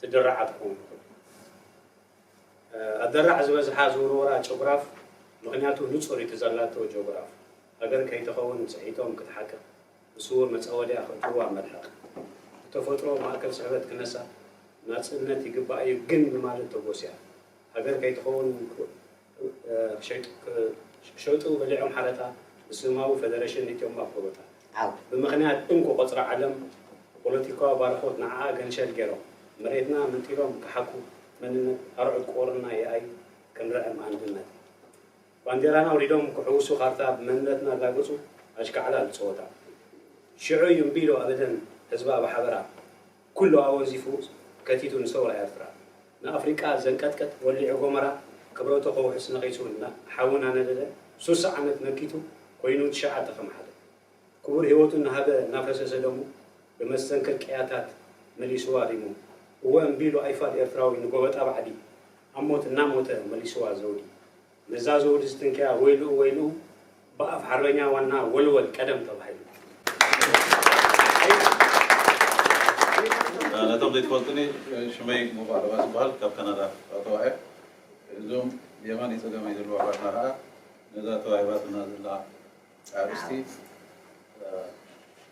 ትድራዓ ትኸውን ትኽእል። ኣደራዕ ዝበዝሓ ዝውርወራ ጭጉራፍ ምኽንያቱ ንጹር እዩ እቲ ዘላቶ ጆግራፍ ሃገር ከይትኸውን ጽሒቶም ክትሓቅቕ ብስውር መጻወድያ ክእትውዋ መልሕቕ ብተፈጥሮ ማእከል ስሕበት ክነሳ ናጽነት ይግባእ እዩ ግን ብማለት ተጎስያ ሃገር ከይትኸውን ክሸጡ በሊዖም ሓረታ እስልማዊ ፈደረሽን እትዮም ኣፍርቦታ ዓው። ብምኽንያት እንኮ ቁጽሪ ዓለም ፖለቲካዊ ባርኾት ንዓኣ ገንሸል ጌሮም መሬትና መንጢሎም ክሓኩ መንነት ኣርዑት ቁርና ይኣይ ክንርዕም ኣንድነት ባንዴራና ኣውሪዶም ክሕውሱ ካርታ ብመንነትና ላግጹ ኣሽካዕላል ጸወታ ሽዑ እዩ እምቢ ኢሉ ኣበደን ህዝባ ብሓበራ ኩሉ ኣወዚፉ ከቲቱ ንሰውራ ኤርትራ ንኣፍሪቃ ዘንቀጥቅጥ ወሊዑ ጎመራ ክብረቱ ከውሕስ ነቒጹ እና ሓዊ ናነደደ ሱሳ ዓመት መኪቱ ኮይኑ ትሽዓተ ከም ሓደ ክቡር ሂወቱ እናሃበ እናፈሰሰ ደሙ ብመስተንክር ቅያታት መሊሱዋ ሪሙ እወ እምቢሉ ኣይፋል ኤርትራዊ ንጎበጣ ባዕዲ ኣብ ሞት እናሞተ መሊሱዋ ዘውዲ ነዛ ዘውዲ ዝትንከያ ወይልኡ ወይልኡ ብኣፍ ሓርበኛ ዋና ወልወል ቀደም ተባሂሉ። ነቶም ዘይትፈልጡኒ ሽመይ ሙባእ ለባስ ይበሃል ካብ ካናዳ ኣተዋ እየ እዞም የማነይ ፀገመይ ዘለዉ ኣሕዋትና ከዓ ነዛ ተዋሂባትና ዘላ ኣርእስቲ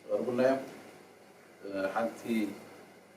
ቀርቡልና እዮም ሓንቲ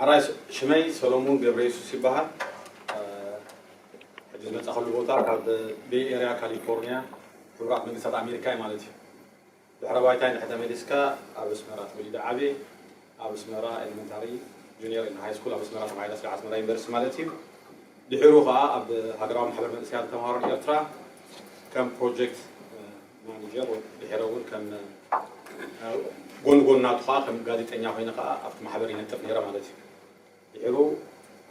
ሐራይ ሽመይ ሰሎሙን ገብረየሱስ ይበሃል። ሕጂ ዝመጻኸሉ ቦታ ካብ ቤይ ኤርያ ካሊፎርንያ ሕቡራት መንግስታት ኣሜሪካ እዩ ማለት እዩ። ድሕረ ባይታይ እንድሕር ተመሊስካ ኣብ ኣስመራ ተወሊደ ዓብየ ኣብ ኣስመራ ኤለመንታሪ ጁንየር እና ሃይስኩል ኣብ ኣስመራ ተማሂረ ስለ ኣስመራ ዩኒቨርሲቲ ማለት እዩ። ድሒሩ ከኣ ኣብ ሃገራዊ ማሕበር መንእሰያት ተማሃሮ ኤርትራ ከም ፕሮጀክት ማነጀር ወይ ድሕረ እውን ከም ጎን ጎን ናቱ ከዓ ከም ጋዜጠኛ ኮይነ ከዓ ኣብቲ ማሕበር ይነጥፍ ነይረ ማለት እዩ። ድሕሩ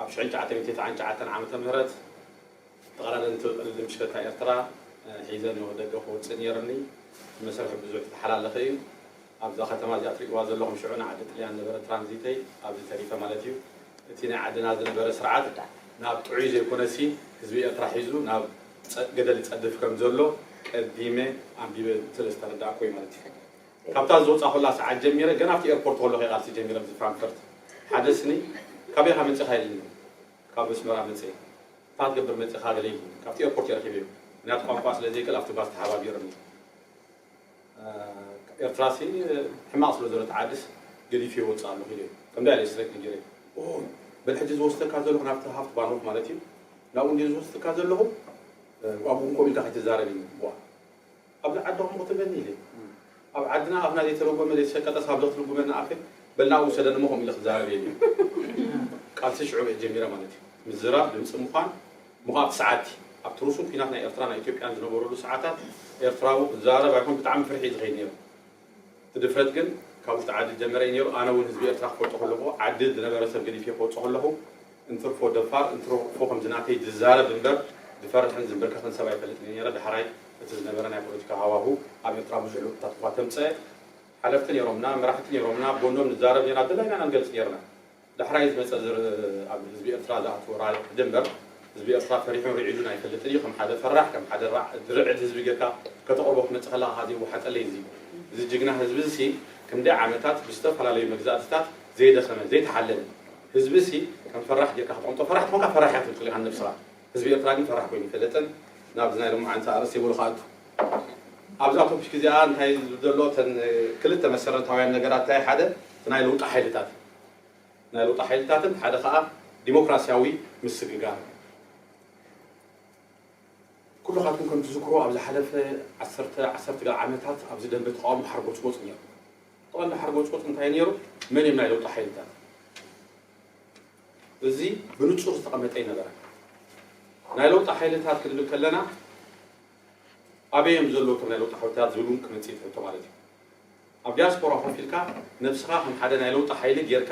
ኣብ ሽሕን ትሽዓተ ሚእቲ ትስዓን ትሽዓተን ዓመተ ምህረት ተቐዳደምቲ ቅድድም ብሽክለታ ኤርትራ ሒዘ ናብ ደገ ክወፅእ ነይርኒ። ብመሰርሒ ብዙሕ ዝተሓላለኸ እዩ። ኣብዛ ከተማ እዚኣ ትሪእዋ ዘለኹም ሽዑ ናይ ዓዲ ጥልያን ነበረ ትራንዚተይ ኣብዚ ተሪፈ ማለት እዩ። እቲ ናይ ዓድና ዝነበረ ስርዓት ናብ ጥዑይ ዘይኮነሲ ህዝቢ ኤርትራ ሒዙ ናብ ገደል ይጸድፍ ከም ዘሎ ቀዲመ ኣንቢበ ስለ ዝተረዳእኩ'ዩ ማለት እዩ። ካብታ ዝወጻኹላ ሰዓት ጀሚረ ገና ኣብቲ ኤርፖርት ከለኹ'የ ቃልሲ ጀሚረ ምስ ፍራንክፈርት። ሓደ ስኒ ካበይ ኢኻ መጺኻ ኢልኒ። ካብ ኣስመራ መጸ። እንታይ ክትገብር መጺኻ ገለ ኢልኒ። ካብቲ ኤርፖርት እየ ረኺበዮ። ምኽንያቱ ቋንቋ ስለ ዘይክእል ኣብቲ ባስ ተሓባቢርኒ። ኤርትራሲ ሕማቅ ስለ ዘሎት ዓድስ ገዲፊዮ ወጽእ ኣለኹ ኢለ ከምዚ ኣለ ስረቂ ነጊረ ኦሆ በል ሕጂ ዝወስደካ ዘለኹ ናብቲ ሃፍት ባንሆፍ ማለት እዩ ናብኡ እንድየ ዝወስደካ ዘለኹ ኣብኡ ውን ከምኡ ኢልካ ከይትዛረብ ኢልኒ ዋእ ኣብዚ ዓዲ ከምኡ ክትብለኒ ኢለ ኣብ ዓድና ኣፍና ዘይተረጎመ ዘይተሸቀጠስ ኣብዚ ክትርጉመና ኣፈ በል ናብኡ ውሰደኒ እሞ ከምኡ ኢለ ክዛረብ እየ ኢለ ቃልሲ ሽዑ እየ ጀሚረ ማለት እዩ ምዝራብ ድምጺ ምዃን ምቛቕ ሰዓቲ፣ ኣብቲ ርሱን ኲናት ናይ ኤርትራ ናይ ኢትዮጵያን ዝነበረሉ ሰዓታት ኤርትራዊ ክዛረብ ኣይኮን ብጣዕሚ ፍርሒ እዩ ዝኸይድ ነይሩ። እቲ ድፍረት ግን ካብ ውሽጢ ዓዲ ዝጀመረ እዩ ነይሩ። ኣነ እውን ህዝቢ ኤርትራ ክፈልጦ ከለኹ ዓዲ ዝነበረ ሰብ ገዲፌ ክወጽእ ከለኹ እንትርፎ ደፋር እንትርፎ ከምዚ ናተይ ዝዛረብ እምበር ዝፈርሕን ዝምብርከኽን ሰብ ኣይፈልጥን እየ ነይረ። ዳሕራይ እቲ ዝነበረ ናይ ፖለቲካ ሃዋሁ ኣብ ኤርትራ ብዙሕ ለውጥታት እኳ ተምጸ ሓለፍቲ ነይሮምና መራሕቲ ነይሮምና ኣብ ጎኖም ንዛረብ ነይርና ዝደላይና ኢና ንገልጽ ነይርና። ዳሕራይ ዝመጸ ዝርእ ኣብ ህዝቢ ኤርትራ ዝኣትዎ ራዕዲ ሕጂ እምበር ህዝቢ ኤርትራ ፈሪሑን ሪዒዱን ኣይፈልጥን ኢዩ ከም ሓደ ፈራሕ ከም ሓደ ራዕ ዝርዕድ ህዝቢ ገርካ ከተቅርቦ ክትመጽእ ከለካ ከኣ ዘይዋሓጠለይ እዚ እዚ ጅግና ህዝቢ እዚ ክንደይ ዓመታት ብዝተፈላለዩ መግዛእትታት ዘይደከመ ዘይተሓለለ ህዝቢ እዚ ከም ፈራሕ ገርካ ክትቀምጦ ፈራሕ ተኮንካ ፈራሕ ኢካ ትብል ኢካ ንነብስካ ህዝቢ ኤርትራ ግን ፈራሕ ኮይኑ ኣይፈለጥን ናብዚ ናይ ሎምዓንቲ ኣርእስቲ ይብሉ ክኣቱ ኣብዛ ቶፒክ እዚኣ እንታይ ዝብል ዘሎ እተን ክልተ መሰረታውያን ነገራት እንታይ ሓደ እቲ ናይ ለውጢ ሓይልታት ናይ ለውጢ ሓይልታትን ሓደ ከኣ ዲሞክራሲያዊ ምስግጋር እዩ። ኩሉኻትኩም ከም ትዝክርዎ ኣብ ዝሓለፈ ዓሰርተ ዓሰርተ ገለ ዓመታት ኣብዚ ደንበ ተቓውሞ ሓርጎጽጎጽ ነይሩ። ቀንዲ ሓርጎጽጎጽ እንታይ ነይሩ? መን እዮም ናይ ለውጢ ሓይልታት? እዚ ብንጹር ዝተቐመጠ ኣይነበረን። ናይ ለውጢ ሓይልታት ክንብል ከለና ኣበይ እዮም ዘለዉ እቶም ናይ ለውጢ ሓይልታት ዝብል እውን ክመጽእ እዩ እቲ ሕቶ ማለት እዩ። ኣብ ዲያስፖራ ኮፍ ኢልካ ነብስኻ ከም ሓደ ናይ ለውጢ ሓይሊ ጌርካ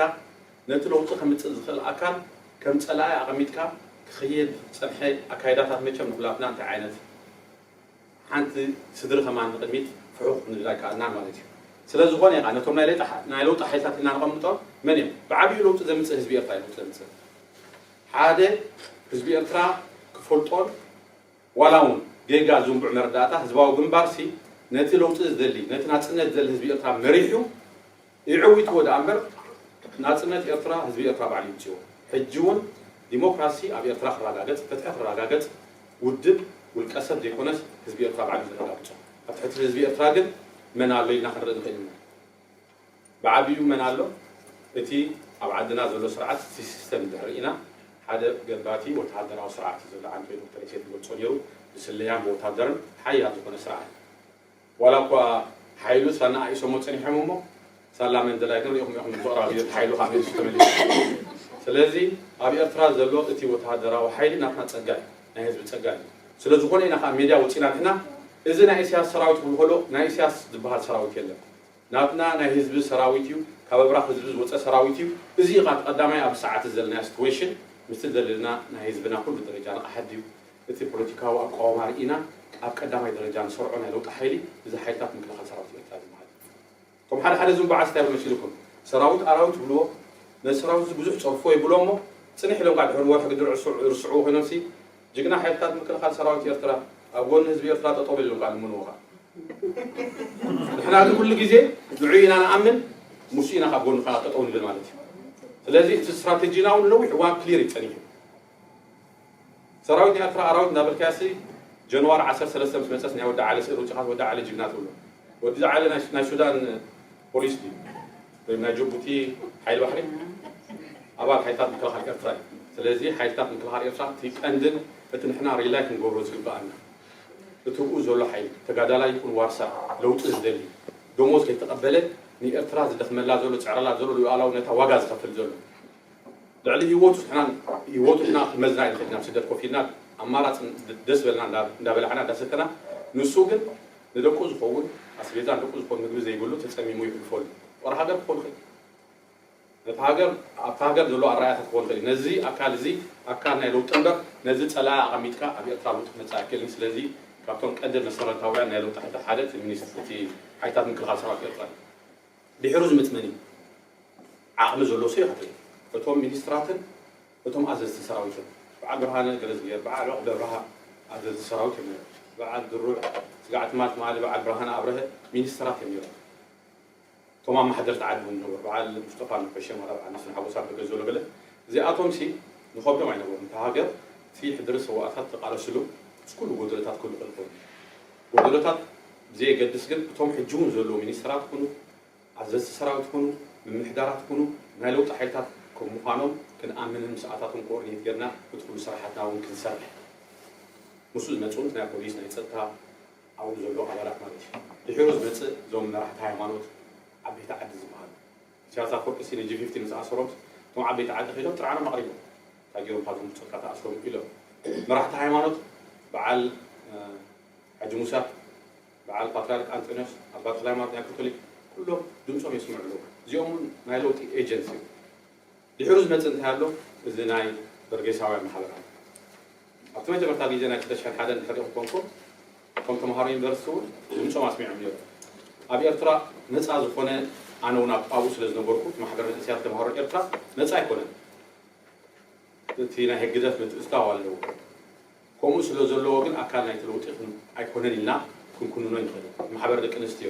ነቲ ለውጢ ከምጽእ ዝኽእል ኣካል ከም ጸላኢ ኣቐሚጥካ ክኽየድ ዝጸንሐ ኣካይዳታት መቸም ንኹላትና እንታይ ዓይነት ሓንቲ ስድሪ ከማን ንቕድሚት ፍሑኽ ክንብል ኣይከኣልናን ማለት እዩ። ስለ ዝኾነ ኢኻ ነቶም ናይ ለይጢ ናይ ለውጢ ሓይልታት ኢልና ነቐምጦም መን እዮም? ብዓቢኡ ለውጢ ዘምጽእ ህዝቢ ኤርትራ እዩ ለውጢ ዘምጽእ ሓደ ህዝቢ ኤርትራ ክፈልጦን ዋላውን ጌጋ ዝንቡዕ መረዳእታ ህዝባዊ ግንባርሲ ነቲ ለውጢ ዝደሊ፣ ነቲ ናጽነት ዝደሊ ህዝቢ ኤርትራ መሪሑ የዕዊትዎ ደኣምበር፣ ናጽነት ኤርትራ ህዝቢ ኤርትራ ባዕሉ ይምጽኦ። ሕጂውን ዲሞክራሲ ኣብ ኤርትራ ክራጋገጽ፣ ፍትሒ ክራጋገጽ ውድብ፣ ውልቀሰብ ዘይኮነስ ህዝቢ ኤርትራ ባዕሉ እዩ ዘረጋግጾ። ኣብ ትሕቲ ህዝቢ ኤርትራ ግን መን ኣሎ ኢልና ክንርኢ ንኽእል ኢና። ብዓቢኡ መን ኣሎ እቲ ኣብ ዓድና ዘሎ ስርዓት እቲ ሲስተም እንድሕር ርኢና ሓደ ገባቲ ወተሃደራዊ ስርዓት እዩ ዘሎ ዓንኬል ዶክተር ኢሰያስ ዝገልጾ ኔሩ ብስለያን ብወታደርን ሓያል ዝኾነ ስርዓት ዋላ እኳ ሓይሉ ሳላ ኣናኣኢሶሞ ጸኒሖም እሞ ሳላ መንደላይ ግን ሪኢኹም ኢኹም ዶክተር ኣብዮት ሓይሉ ካብ ሜሱ ተመሊሱ ስለዚ ኣብ ኤርትራ ዘሎ እቲ ወተሃደራዊ ሓይሊ ናትና ጸጋ እዩ ናይ ህዝቢ ጸጋ እዩ ስለ ዝኾነ ኢና ከኣ ሜድያ ወጺና ንሕና እዚ ናይ ኢሰያስ ሰራዊት ክብሉ ከሎ ናይ ኢሰያስ ዝብሃል ሰራዊት የለን ናትና ናይ ህዝቢ ሰራዊት እዩ ካብ ኣብራኽ ህዝቢ ዝወጸ ሰራዊት እዩ እዚ እዩ ከኣ እቲ ቀዳማይ ኣብዚ ሰዓት እዚ ዘለናዮ ስትወይሽን ምስቲ ዘለና ናይ ህዝብና ኩሉ ደረጃ ንቕሓት ድዩ እቲ ፖለቲካዊ ኣቋውማ ርኢና ኣብ ቀዳማይ ደረጃ ንሰርዖ ናይ ለውጢ ሓይሊ እዚ ሓይልታት ምክልኻል ሰራዊት ኤርትራ ዝብሃል እዩ። እቶም ሓደ ሓደ ዝንጉዓዝ እንታይ መሲሉኩም ሰራዊት ኣራዊት ይብልዎ ነዚ ሰራዊት እዚ ብዙሕ ጸርፎ ይብሎ እሞ ጽንሕ ኢሎም ካኣ ድሕሪ ወርሒ ግዲ ርስዕዎ ኮይኖምሲ ጅግና ሓይልታት ምክልኻል ሰራዊት ኤርትራ ኣብ ጎኒ ህዝቢ ኤርትራ ጠጠው በል ኢሎም ካኣ ልምንዎ ካኣ ንሕና ግን ኩሉ ግዜ ንዑኡ ኢና ንኣምን ሙሱ ኢና ካብ ጎኑ ካኣ ጠጠው ንብል ማለት እዩ ስለዚ እቲ ስትራተጂና ውን ንነዊሕ እዋን ክሊር እዩ ጸኒሑ ሰራዊት ኤርትራ ኣራዊት እንዳበልካያሲ ጀንዋሪ ዓሰርተ ሰለስተ ምስ መጸስ ናይ ወዲ ዓሊ ስእሊ ኣውጺኻስ ወዲ ዓሊ ጅግና ትብሎ ወዲ ዓሊ ናይ ሱዳን ፖሊስ ድዩ ወይም ናይ ጅቡቲ ሓይሊ ባሕሪ ኣባል ሓይልታት ምክልኻል ኤርትራ እዩ ስለዚ ሓይልታት ምክልኻል ኤርትራ እቲ ቀንድን እቲ ንሕና ሪላይ ክንገብሮ ዝግበኣና እቲ ብኡ ዘሎ ሓይሊ ተጋዳላይ ይኹን ዋርሳይ ለውጢ ዝደሊ ደሞዝ ከይተቐበለ ንኤርትራ ዝደኽመላ ዘሎ ዝጽዕረላ ዘሎ ሉኣላውነታ ዋጋ ዝኸፍል ዘሎ ልዕሊ ሂወቱ ዝሕናን ሂወቱ ኢና ክመዝና ይንክእል ኢና ስደት ኮፍ ኢልና ኣማራጺ ደስ ዝበለና እንዳ በላዕና እንዳ ሰተና ንሱ ግን ንደቁ ዝኸውን ኣስቤዛ ንደቁ ዝኾን ምግቢ ዘይብሉ ተጸሚሙ ይሕልፈሉ ጦር ሃገር ክኾን ይኽእል እዩ ነታ ሃገር ኣብታ ሃገር ዘሎ ኣራኣያታት ክኾን ይኽእል እዩ ነዚ ኣካል እዚ ኣካል ናይ ለውጢ እምበር ነዚ ጸላኢ ኣቐሚጥካ ኣብ ኤርትራ ለውጢ ክመጽእ ኣይክእልን ስለዚ ካብቶም ቀንዲ መሰረታውያን ናይ ለውጢ ሓይልታት ሓደ እቲ ሚኒስ እቲ ሓይልታት ምክልኻል ሰራዊት ኤርትራ እዩ ድሕሩ ዝምት መን እዩ ዓቕሚ ዘሎዎ ሰው ይኸተል እቶም ሚኒስትራትን እቶም ኣዘዝቲ ሰራዊትን ብዓል ብርሃነ ገረዝጊሄር ብዓል ዑቕበ ብርሃ ኣዘዝቲ ሰራዊት እዮም ነይሮም ብዓል ድሩዕ ስጋዕ ትማል ትማሊ ብዓል ብርሃነ ኣብረሀ ሚኒስትራት እዮም ነይሮም እቶም ኣማሓደርቲ ዓዲ እውን ዝነበሩ ብዓል ሙስጠፋ ነፈሸ ማራ ብዓል መስፍን ሓጎስ ኣበ ገዘሎ ገለ እዚኣቶም ሲ ንኸብዶም ኣይነበሩን እታ ሃገር እቲ ሕድሪ ሰዋኣታት ዝተቓለስሉ ምስ ኩሉ ጎደለታት ክህሉ ክእል ኮይኑ እዩ ወለዶታት ብዘየገድስ ግን እቶም ሕጂ እውን ዘለዉ ሚኒስተራት ኩኑ ኣዘዝቲ ሰራዊት ኩኑ ምምሕዳራት ኩኑ ናይ ለውጢ ሓይልታት ከም ምዃኖም ክንኣምንን ምስኣታቶም ኮኦርዲኔት ጌርና እቲ ኩሉ ስራሓትና እውን ክንሰርሕ ምስኡ ዝመጽኡን ናይ ፖሊስ ናይ ጸጥታ ኣብኡ ዘለዉ ኣባላት ማለት እዩ ድሒሩ ዝመጽእ እዞም መራሕቲ ሃይማኖት ዓበይቲ ዓዲ ዝበሃሉ ኢሳያስ ኣፈወርቂ ሲነ ጂፊፍቲ ምስ ኣሰሮምስ እቶም ዓበይቲ ዓዲ ከይዶም ጥርዓኖም ኣቕሪቦም እንታይ ጌሮም ካብዚ ምርጨካ ተኣስሮም ኢሎም መራሕቲ ሃይማኖት በዓል ሓጂ ሙሳ በዓል ፓትርያርክ ኣንጠንዮስ ኣባ ተክለሃይማኖት ናይ ኮቶሊክ ኩሎም ድምጾም የስምዑ ኣለዉ እዚኦም ውን ናይ ለውጢ ኤጀንሲ እዮም። ድሕሩ ዝመጽእ እንታይ ኣሎ እዚ ናይ በርጌሳውያን ማሕበራት ኣብቲ መጀመርታ ግዜ ናይ ክልተ ሽሕን ሓደን ድሕሪ ክኮንኩ እቶም ተማሃሮ ዩኒቨርሲቲ ውን ድምጾም ኣስሚዖም ኔሮም ኣብ ኤርትራ ነጻ ዝኮነ ኣነ ውን ኣብኡ ስለ ዝነበርኩ እቲ ማሕበር መንእሰያት ተማሃሮ ኤርትራ ነጻ ኣይኮነን እቲ ናይ ህግደፍ ምትእትታው ኣለዎ ከምኡ ስለ ዘለዎ ግን ኣካል ናይቲ ለውጢ ኣይኮነን ኢልና ክንኩንኖ ንክእል ማሕበር ደቂ ኣንስትዮ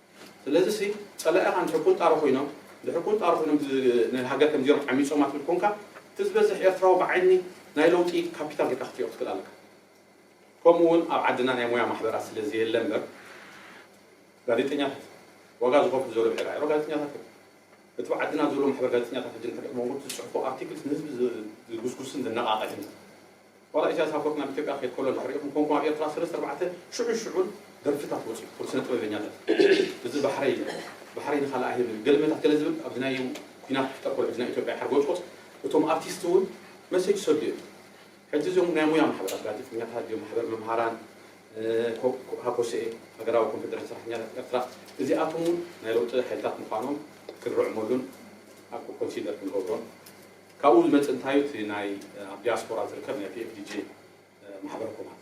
ስለዚሲ ጸላኢኻ እንድሕር ቁንጣሮ ኮይኖም እንድሕር ቁንጣሮ ኮይኖም ንሃገር ከም ዜሮ ዓሚጾማ ትብል ኮንካ እቲ ዝበዝሕ ኤርትራዊ ብዓይኒ ናይ ለውጢ ካፒታል ጌርካ ክትሪኦ ክትክእል ኣለካ ከምኡ ውን ኣብ ዓድና ናይ ሞያ ማሕበራት ስለ ዘየለ እምበር ጋዜጠኛታት ዋጋ ዝኸፍሉ ዘሎ ብሒር ኣዕሮ ጋዜጠኛታት እዮም እቲ ብዓድና ዘሎ ማሕበር ጋዜጠኛታት ሕጂ እንድሕር ሞንጎ ዝጽሕፎ ኣርቲክልስ ንህዝቢ ዝጉስጉስን ዘነቓቕሕን ዋላ ኢሳያስ ኣፈወርቂ ናብ ኢትዮጵያ ክኸይድ ከሎ እንድሕር ሪኢኹም ኮንኩም ኣብ ኤርትራ ሰለስተ ኣርባዕተ ሽዑን ሽዑን ደርፍታት ወጺኡ እቶም ስነ ጥበበኛታት እዚ ባሕረይ ኢሉ ባሕረይ ንኻልእ ኣይህብን ገልመታት ገለ ዝብል ኣብዚ ናይ ኲናት ክፍጠር ከሎ ሕጂ ናይ ኢትዮጵያ ሓርጎጽጎጽ እቶም ኣርቲስት እውን መሴጅ ይሰዱ እዮም ሕጂ እዚኦም ናይ ሙያ ማሕበራት ጋዜጠኛታት ድዮም ማሕበር መምሃራን ሃኮስኤ ሃገራዊ ኮንፌደሬሽን ሰራሕተኛታት ኤርትራ እዚኣቶም እውን ናይ ለውጢ ሓይልታት ምዃኖም ክንርዕመሉን ኣብ ኮንሲደር ክንገብሮን ካብኡ ዝመጽእ እንታዩ እቲ ናይ ኣብ ዲያስፖራ ዝርከብ ናይ PFDJ ማሕበር ኮማት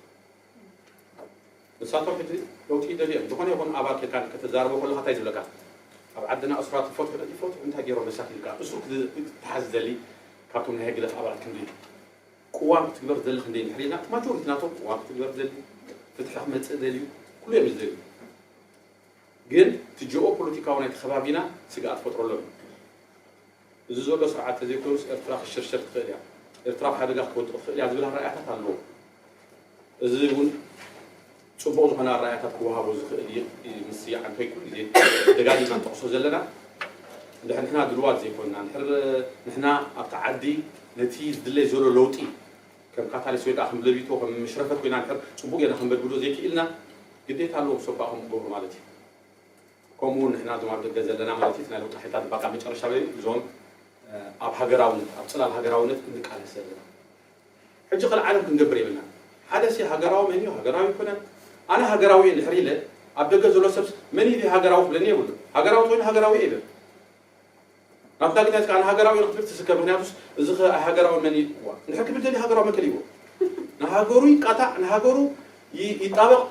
ንሳቶም ሕጂ ለውጢ ይደልዩ እዮም ዝኾነ ይኹን ኣባል ኬካን ከተዛርቦ ከለኻ እንታይ ዝብለካ ኣብ ዓድና እሱራት ይፈትሑ ዶ ይፈትሑ እንታይ ገይሮም መሳኪን ኢልካ እሱር ክትሓዝ ዝደሊ ካብቶም ናይ ህግደፍ ኣባላት ክንደይ ቅዋም ክትግበር ዝደሊ ክንደይ እንድሕር ኢልና እቲ ማጆሪቲ ናቶም ቅዋም ክትግበር ዝደሊ ፍትሒ ክመጽእ ደልዩ ኩሉ እዮም ዝደልዩ ግን እቲ ጂኦ ፖለቲካዊ ናይቲ ከባቢና ስግኣት ፈጥረሎም እዩ እዚ ዘሎ ስርዓት ተዘይኮይኑስ ኤርትራ ክትሽርሸር ትኽእል እያ፣ ኤርትራ ኣብ ሓደጋ ክትወድቕ ትኽእል እያ ዝብል ኣራእያታት ኣለዎ። እዚ እውን ጽቡቕ ዝኾነ ኣራእያታት ክወሃቦ ዝኽእል ምስዝያ እንከይኮን እዚ ደጋጊምና ንጠቕሶ ዘለና እንድሕር ንሕና ድልዋት ዘይኮንና እንድሕር ንሕና ኣብቲ ዓዲ ነቲ ዝድለይ ዘሎ ለውጢ ከም ካታሊስ ወይ ከዓ ከም ለቢቶ ከም ምሽረፈት ኮይና እንድሕር ጽቡቕ ጌርና ክንበድብዶ ዘይክኢልና ግዴታ ኣለዎም ሰባኹም ክገብሩ ማለት እዩ። ከምኡ ውን ንሕና እዞም ኣብ ደገ ዘለና ማለት እዩ እቲ ናይ ለውጢ ሓይልታት ባቃ መጨረሻ በይኑ እዞም ኣብ ሃገራውነት ኣብ ጽላል ሃገራውነት እንቃለስ ዘለና ሕጂ ከልእ ዓለም ክንገብር የብልናን ሓደ ሲ ሃገራዊ መን እዩ ሃገራዊ ኣይኮነን ኣነ ሃገራዊ እየ እንድሕር ኢለ ኣብ ደገ ዘሎ ሰብስ መን እዩ ዘይሃገራዊ ክብለኒ የብሉን ሃገራዊ ተኮይኑ ሃገራዊ እየ ይበል ኣብ ካልእታት ከኣ ንሃገራዊ ኢዩ ክትብል ትስከ ምክንያቱስ እዚከ ኣይሃገራዊ መን ኢዩ ዋእ እንድሕር ክብል ደልዩ ሃገራዊ መን ከሊእዎ ንሃገሩ ይቃታዕ ንሃገሩ ይጣበቅ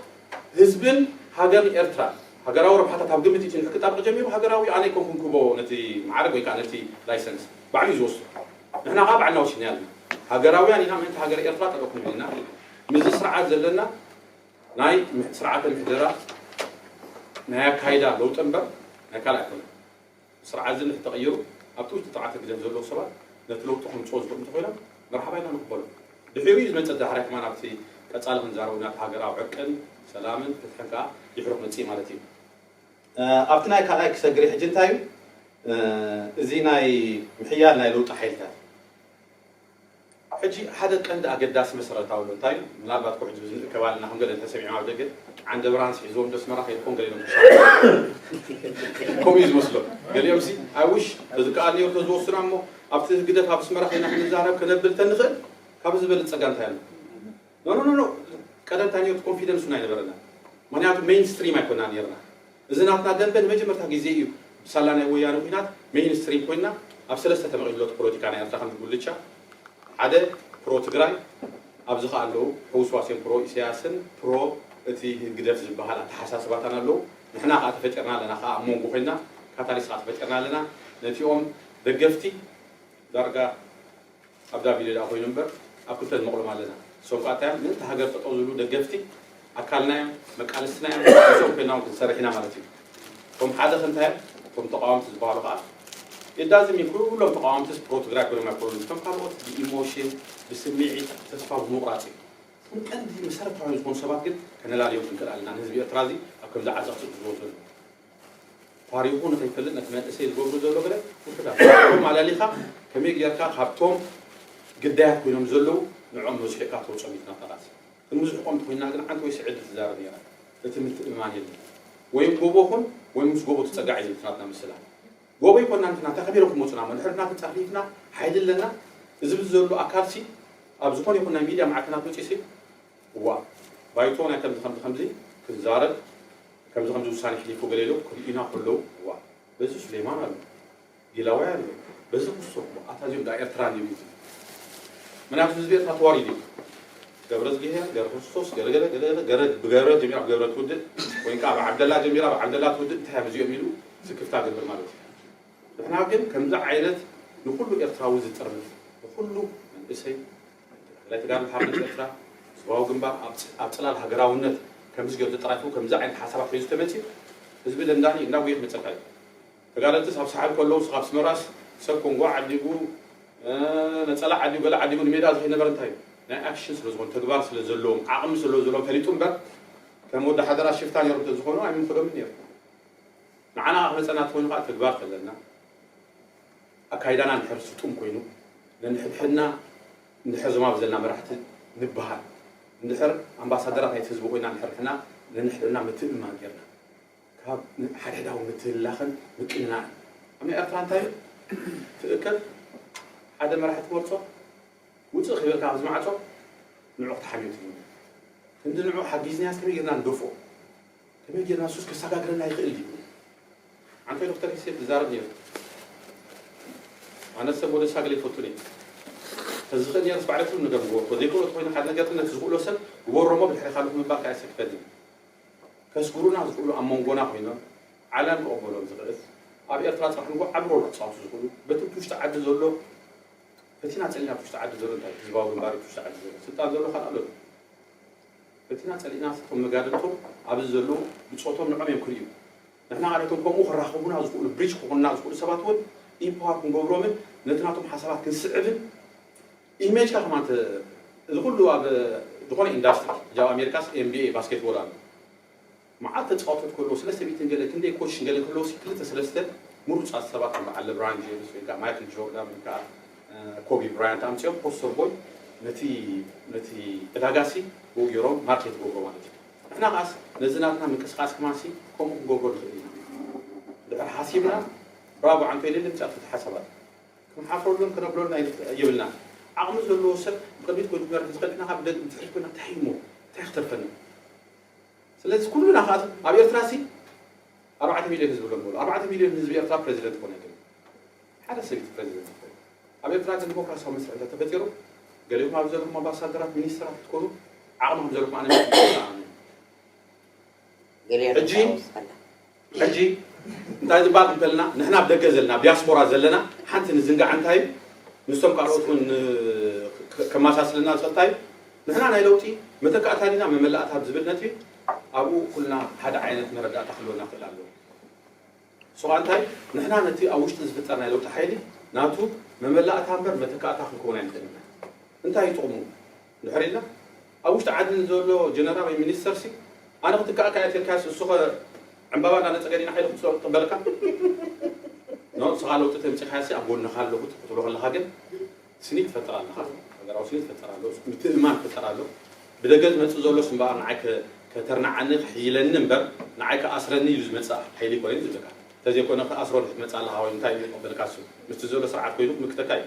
ህዝብን ሃገርን ኤርትራ ሃገራዊ ረብሓታት ኣብ ግምት ኢትዩ እንድሕር ክጣበቅ ጀሚሩ ሃገራዊ ኢዩ ኣነ ኣይኮንኩን ክህቦ ነቲ መዓርግ ወይ ከኣ ነቲ ላይሰንስ ባዕሉ ኢዩ ዝወስዶ ንሕና ከኣ ባዕልና ወሲድናዮ ኣለና ሃገራውያን ኢና ምእንቲ ሃገረ ኤርትራ ጠጠው ክንብል ኢና ምስዚ ስርዓት ዘለና ናይ ስርዓተ ምሕደራ ናይ ኣካይዳ ለውጢ እምበር ናይ ካልእ ኣይኮነን ስርዓት እዚ እንተተቐይሩ ኣብቲ ውሽጢ ጥርዓተ ግደፍ ዘለዉ ሰባት ነቲ ለውጢ ከምጽዎ ዝኽእሉ እንተኾይኖም መርሓባ ኢልና ንቕበሎ። ድሒሩ እዩ ዝመጽእ ዳሕራይ ከማን ኣብቲ ቀጻሊ ክንዛረበሉ ኢና እታ ሃገር ኣብ ዕርቅን ሰላምን ፍትሕን ከኣ ድሒሩ ክመጽእ እዩ ማለት እዩ። ኣብቲ ናይ ካልኣይ ክሰግር እየ ሕጂ እንታይ እዩ እዚ ናይ ምሕያል ናይ ለውጢ ሓይልታት። ሕጂ ሓደ ቀንዲ ኣገዳሲ መሰረታዊ ምንታይ እዩ ምናልባት ኩሕ ዝብዝ ንእከብ ኣለና ከም ገለ እንተ ሰሚዖም ኣብ ደገ ዓንደብርሃንስ ሒዝዎም ዶ ኣስመራ ከይድኩም ገሊኦም ክሳብ ከምኡ እዩ ዝመስሎም ገሊኦምሲ ኣይ ዊሽ ተዝከኣል ኔሩ ተዝወሱና እሞ ኣብቲ ህግደፍ ኣብ ኣስመራ ከይና ክንዛረብ ከነብል ተንኽእል ካብዚ ዝበልጽ ጸጋ እንታይ ኣሎ ኖኖኖኖ ቀደም እንታይ ኔሩ ኮንፊደንሱን ኣይነበረናን ምክንያቱ ሜይን ስትሪም ኣይኮናን ኔርና እዚ ናትና ደምበ ንመጀመርታ ግዜ ኢዩ ብሳላ ናይ ወያነ ኩናት ሜይን ስትሪም ኮይና ኣብ ሰለስተ ተመቂሉ ሎቲ ፖሎቲካ ናይ ኣርትራ ከምዚ ጉልቻ ሓደ ፕሮ ትግራይ ኣብዚ ከኣ ኣለዉ ሕውስዋስ ኢዮም ፕሮ ኢሰያስን ፕሮ እቲ ህግደፍ ዝብሃል ኣተሓሳስባታን ኣለዉ ንሕና ከኣ ተፈጢርና ኣለና ከኣ ኣብ ሞንጎ ኮይና ካታሊስ ከኣ ተፈጢርና ኣለና ነቲኦም ደገፍቲ ዳርጋ ኣብ ጋቢለ ድኣ ኮይኑ እምበር ኣብ ክልተ ንመቕሎም ኣለና። እሶም ከኣ እንታይ እዮም ምእንቲ ሃገር ጠጠው ዝብሉ ደገፍቲ ኣካልና እዮም፣ መቃልስትና እዮም፣ ምስኦም ኮይና እውን ክንሰርሕ ኢና ማለት እዩ። እቶም ሓደ ከ እንታይ እዮም? እቶም ተቓወምቲ ዝበሃሉ ከኣ የዳዝም እዩ ኩሎም ተቓወምትስ ፕሮ ትግራይ ኮይኖም ኣይኮኑን እቶም ካልኦት ብኢሞሽን፣ ብስምዒት፣ ተስፋ ብምቑራጽ እዩ። እቶም ቀንዲ መሰረታውያን ዝኾኑ ሰባት ግን ከነላልዮም ክንክእል ኣለና ንህዝቢ ኤርትራ እዚ ኣብ ከምዚ ዓዘቕቲ ዝወርዶ ዘሎ። ታሪኹ ንኸይፈልጥ ነቲ መንእሰይ ዝገብሩ ዘሎ ገለ ውሑዳት እቶም ኣላሊኻ ከመይ ጌርካ ካብቶም ግዳያት ኮይኖም ዘለዉ ንዕኦም መዝሒልካ ተውጾም ኢዩ እቲ ናፍቓት ክንምዝሕቆም እንተኾይንና ግን ሓንቲ ወይ ስዕድ ትዛረብ ኔራ እቲ ምትእምማን የለን ወይም ጎቦ ኹን ወይም ምስ ጎቦ ትጸጋዕ ኢዩ ዝብል እቲ ናትና ምስላ ጎቦ ኣይኮናን እቲ ናታ ከመይ ኢሎም ክመጹና እሞ ድሕሪ ናትና ጻፍሊትና ሓይሊ ኣለና እዚ ብዚ ዘሎ ኣካልሲ ኣብ ዝኾነ ይኹን ናይ ሚድያ ማዕከናት መጺኡሲ እዋእ ባይቶ ናይ ከምዚ ከምዚ ከምዚ ክዛረብ ከምዚ ከምዚ ውሳኔ ሕሊፉ ገለ ኢሎም ክርእዩና ከለዉ እዋእ በዚ ሱሌማን ኣሎ ጊላዋይ ኣሎ በዚ ክሶ እሞ ኣታ እዚኦም ድኣ ኤርትራ እንድዮም ኢዩ ዝብል ምክንያቱ ህዝቢ ኤርትራ ተዋሪዱ ኢዩ ገብረዝጊሄር ገረክርስቶስ ገረገለ ገለገለ ገረድ ብገረድ ጀሚራ ብገረድ ትውድእ ወይ ከኣ ብዓብደላ ጀሚራ ብዓብደላ ትውድእ እንታይ እያም እዚኦም ኢሉ ስክፍታ ገብር ማለት እዩ ንሕና ግን ከምዚ ዓይነት ንኩሉ ኤርትራዊ ዝጥርንፍ ንኩሉ መንእሰይ ኣይተ ተኽላይ ተጋድሎ ሓርነት ኤርትራ ዞባዊ ግንባር ኣብ ጽላል ሃገራውነት ከምዝገብ ዘጠራኪቡ ከምዚ ዓይነት ሓሳባት ሒዙ ተመጺኡ ህዝቢ ደንዳኒ እንዳጉየ ክመጸካ እዩ ተጋደልትስ ኣብ ሳሕል ከለዉ እስኻ ኣብ ስመራስ ሰብ ኮንጎ ዓዲጉ ነጸላ ዓዲጉ ገለ ዓዲጉ ንሜዳ ዝኸይድ ነበረ እንታይ እዩ ናይ ኣክሽን ስለዝኾኑ ተግባር ስለዘለዎም ዓቕሚ ስለዘለዎም ፈሊጡ እምበር ከም ወዲ ሓደራ ሽፍታ ነይሮም ተዝኾኑ ኣይምኽዶምን ነይሩ ንዓና ክመጸና ትኾይኑ ከዓ ተግባር ተለና ኣካይዳና እንድሕር ስጡም ኮይኑ ነንሕድሕድና እንድሕር ዞማብ ዘለና መራሕቲ ንብሃል እንድሕር ኣምባሳደራት ናይቲ ህዝቢ ኮይና እንድሕር ንሕና ነንሕድሕድና ምትእምማን ጌርና ካብ ሓድሕዳዊ ምትህልላኽን ምቅንናእን ኣብ ናይ ኤርትራ እንታይ እዩ ትእከብ ሓደ መራሒ ትመርጾ ውጽእ ከይበልካ ካብዚ ማዕጾ ንዑ ክትሓምዮ ትምነ ክንዲ ንዑ ሓጊዝንያስ ከመይ ጌርና ንደፍኦ ከመይ ጌርና ሱስ ከሳጋግረና ይኽእል ድዩ? ዓንተይ ዶክተር ሂሴት ዝዛረብ ነይሩ ኣነ ሰብ ወደ ሳግል ኣይፈቱን እየ ተዝኽእል ነይረስ ባዕለ ትብል ነገር ምገበርኩ ዘይክእሎ ተኮይኑ ሓደ ነገር ነቲ ዝኽእሎ ሰብ ግበሮሞ ብድሕሪ ካልኦት ምባል ከኣ የሰክፈኒ ከስግሩና ዝኽእሉ ኣብ መንጎና ኮይኖም ዓለም ክቕበሎም ዝኽእል ኣብ ኤርትራ ጽባሕ ንጎ ዓቢ ሮል ክጻወቱ ዝኽእሉ በቲ ብቲ ውሽጢ ዓዲ ዘሎ ፈቲና ጸሊና ብቲ ውሽጢ ዓዲ ዘሎ እንታይ ህዝባዊ ግንባር ብቲ ውሽጢ ዓዲ ዘሎ ስልጣን ዘሎ ካልእ ኣሎ በቲና ጸሊእናስ እቶም መጋድልቶም ኣብዚ ዘለዉ ብጾቶም ንዕኦም እዮም ክርእዩ ንሕና ኸኣ ነቶም ከምኡ ክራኸቡና ዝኽእሉ bridge ክኾኑና ዝኽእሉ ሰባት እውን empower ክንገብሮምን ነቲ ናቶም ሓሳባት ክንስዕብን image ካ ከማን እዚ ኩሉ ኣብ ዝኾነ ኢንዳስትሪ ሕጂ ኣብ ኣሜሪካስ NBA ባስኬትቦል ኣሎ መዓት ተጻወቶት ክህልዎ ስለ ሰብይትን ገለ ክንደይ ኮች ገለ ክህልዎሲ ክልተ ሰለስተ ምሩጻት ሰባት ከም በዓል ለብራን ጀምስ ወይ ከኣ ማይክል ጆርዳን ወይ ከኣ ኮቢ ብራያንት ኣምጺኦም ፖስተር ቦይ ነቲ ነቲ ዕዳጋሲ ብኡ ጌሮም ማርኬት ይገብሮ ማለት እዩ ንሕና ከኣስ ነዚ ናትና ምንቅስቃስ ከማሲ ከምኡ ክንገብሮ ንኽእል ኢና ድሕር ሓሲብና ብራቮ ዓንቶ ኢለ ልምጻእ ፍት ሓሳባት ክንሓፍረሉን ክነብለሉን ኣይንኽእል የብልናን ዓቕሚ ዘለዎ ሰብ ብቕድሚት ኮይኑ ክመርሕ ዝኽእል ንሕና ከኣ ብድሕሪት ኮይና ታይ እሞ ታይ ክትርፈና ስለዚ ኩሉና ከኣ እቲ ኣብ ኤርትራሲ ኣርባዕተ ሚልዮን ህዝቢ ከም ንበሎ ኣርባዕተ ሚልዮን ህዝቢ ኤርትራ ፕረዚደንት ክኾን ኣይክእልን ሓደ ሰብ እዩ ፕረዚደንት ዝኸውን ኣብ ኤርትራ ግን ዲሞክራሲያዊ መስርሕ እንተ ተፈጢሩ ገሊኦም ኣብዚ ዘለኹም ኣምባሳደራት ሚኒስተራት ክትኮኑ ዓቕሚ ከም ዘለኩም ኣነ ሕጂ ሕጂ እንታይ ዝባል እንተልና ንሕና ኣብ ደገ ዘለና ኣብ ዲያስፖራ ዘለና ሓንቲ ንዝንጋዕ እንታይ እዩ ምስቶም ካልኦት ውን ከማሳስለና ዝኽእል እንታይ እዩ ንሕና ናይ ለውጢ መተካእታ ዲና መመላእታ ኣብ ዝብል ነጥቢ ኣብኡ ኩልና ሓደ ዓይነት መረዳእታ ክህልወና ክእል ኣለዎ ሶ ኣንታይ ንሕና ነቲ ኣብ ውሽጢ ዝፍጠር ናይ ለውጢ ሓይሊ ናቱ መመላእታ እምበር መተካእታ ክንከውን ኣይንኽእልን ኢና እንታይ እዩ ጥቕሙ ድሕሪ እዛ ኣብ ውሽጢ ዓዲ ንዘሎ ጀነራል ወይ ሚኒስተር ሲ ኣነ ክትካኣካ እየ ተልካዮስ እሱኸ ዕንባባ እንዳነጸገ ዲና ሓይሊ ክትስኦ ክቅበለካ ን ንስኻ ለውጢ ተምጺኻዮ ሲ ኣብ ጎንኻ ኣለኹ ክትብሎ ከለኻ ግን ስኒ ትፈጥር ኣለኻ ሃገራዊ ስኒ ትፈጥር ኣሎ ምትእምማን ክፍጠር ኣሎ ብደገ ዝመጽእ ዘሎስ እምበኣር ንዓይ ከተርንዓኒ ክሕይለኒ እምበር ንዓይ ክኣስረኒ ኢሉ ዝመጽእ ሓይሊ ኮነ ዝብለካ እንተዘይኮነ ክኣስሮ ክትመጽእ ኣለኻ ወይ እንታይ ኢሉ ዝቅበለካ እሱ ምስቲ ዘሎ ስርዓት ኮይኑ ክምክተካ እዩ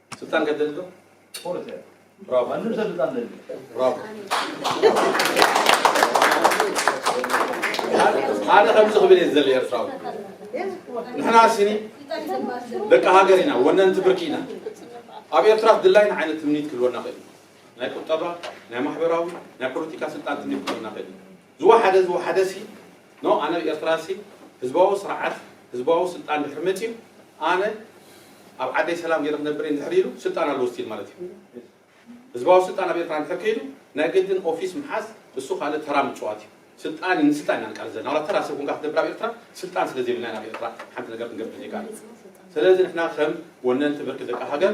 ስልጣን ገደል ዶ ጦር ተ ብራቮ ማንም ሰብ ስልጣን ደል ብራቮ ኣነ ከምዚ ክብል እየ ዝደሊ ኤርትራዊ ንሕና ሲኒ ደቂ ሃገር ኢና ወነንቲ ብርኪ ኢና ኣብ ኤርትራ ድላይና ዓይነት ትምኒት ክህልወና ክእል ናይ ቁጠባ ናይ ማሕበራዊ ናይ ፖለቲካ ስልጣን ትምኒት ክህልወና ክእል ዝወሓደ ዝወሓደሲ ን ኣነ ኤርትራሲ ህዝባዊ ስርዓት ህዝባዊ ስልጣን ድሕሪ መጺኡ ኣነ ኣብ ዓደይ ሰላም ጌረ ክነብር እየ እንድሕር ኢሉ ስልጣን ኣለዎ ስቲል ማለት እዩ ህዝባዊ ስልጣን ኣብ ኤርትራ እንድሕር ከይዱ ናይ ግድን ኦፊስ ምሓዝ እሱ ካልእ ተራ ምጽዋት እዩ ስልጣን ንስልጣን ኢና ንቃለስ ዘለና ዋላ ተራ ሰብ ኮንካ ክትነብር ኣብ ኤርትራ ስልጣን ስለ ዘይብልና ኢና ኣብ ኤርትራ ሓንቲ ነገር ክንገብር ዘይከኣል ስለዚ ንሕና ከም ወነንቲ ብርኪ ደቂ ሃገር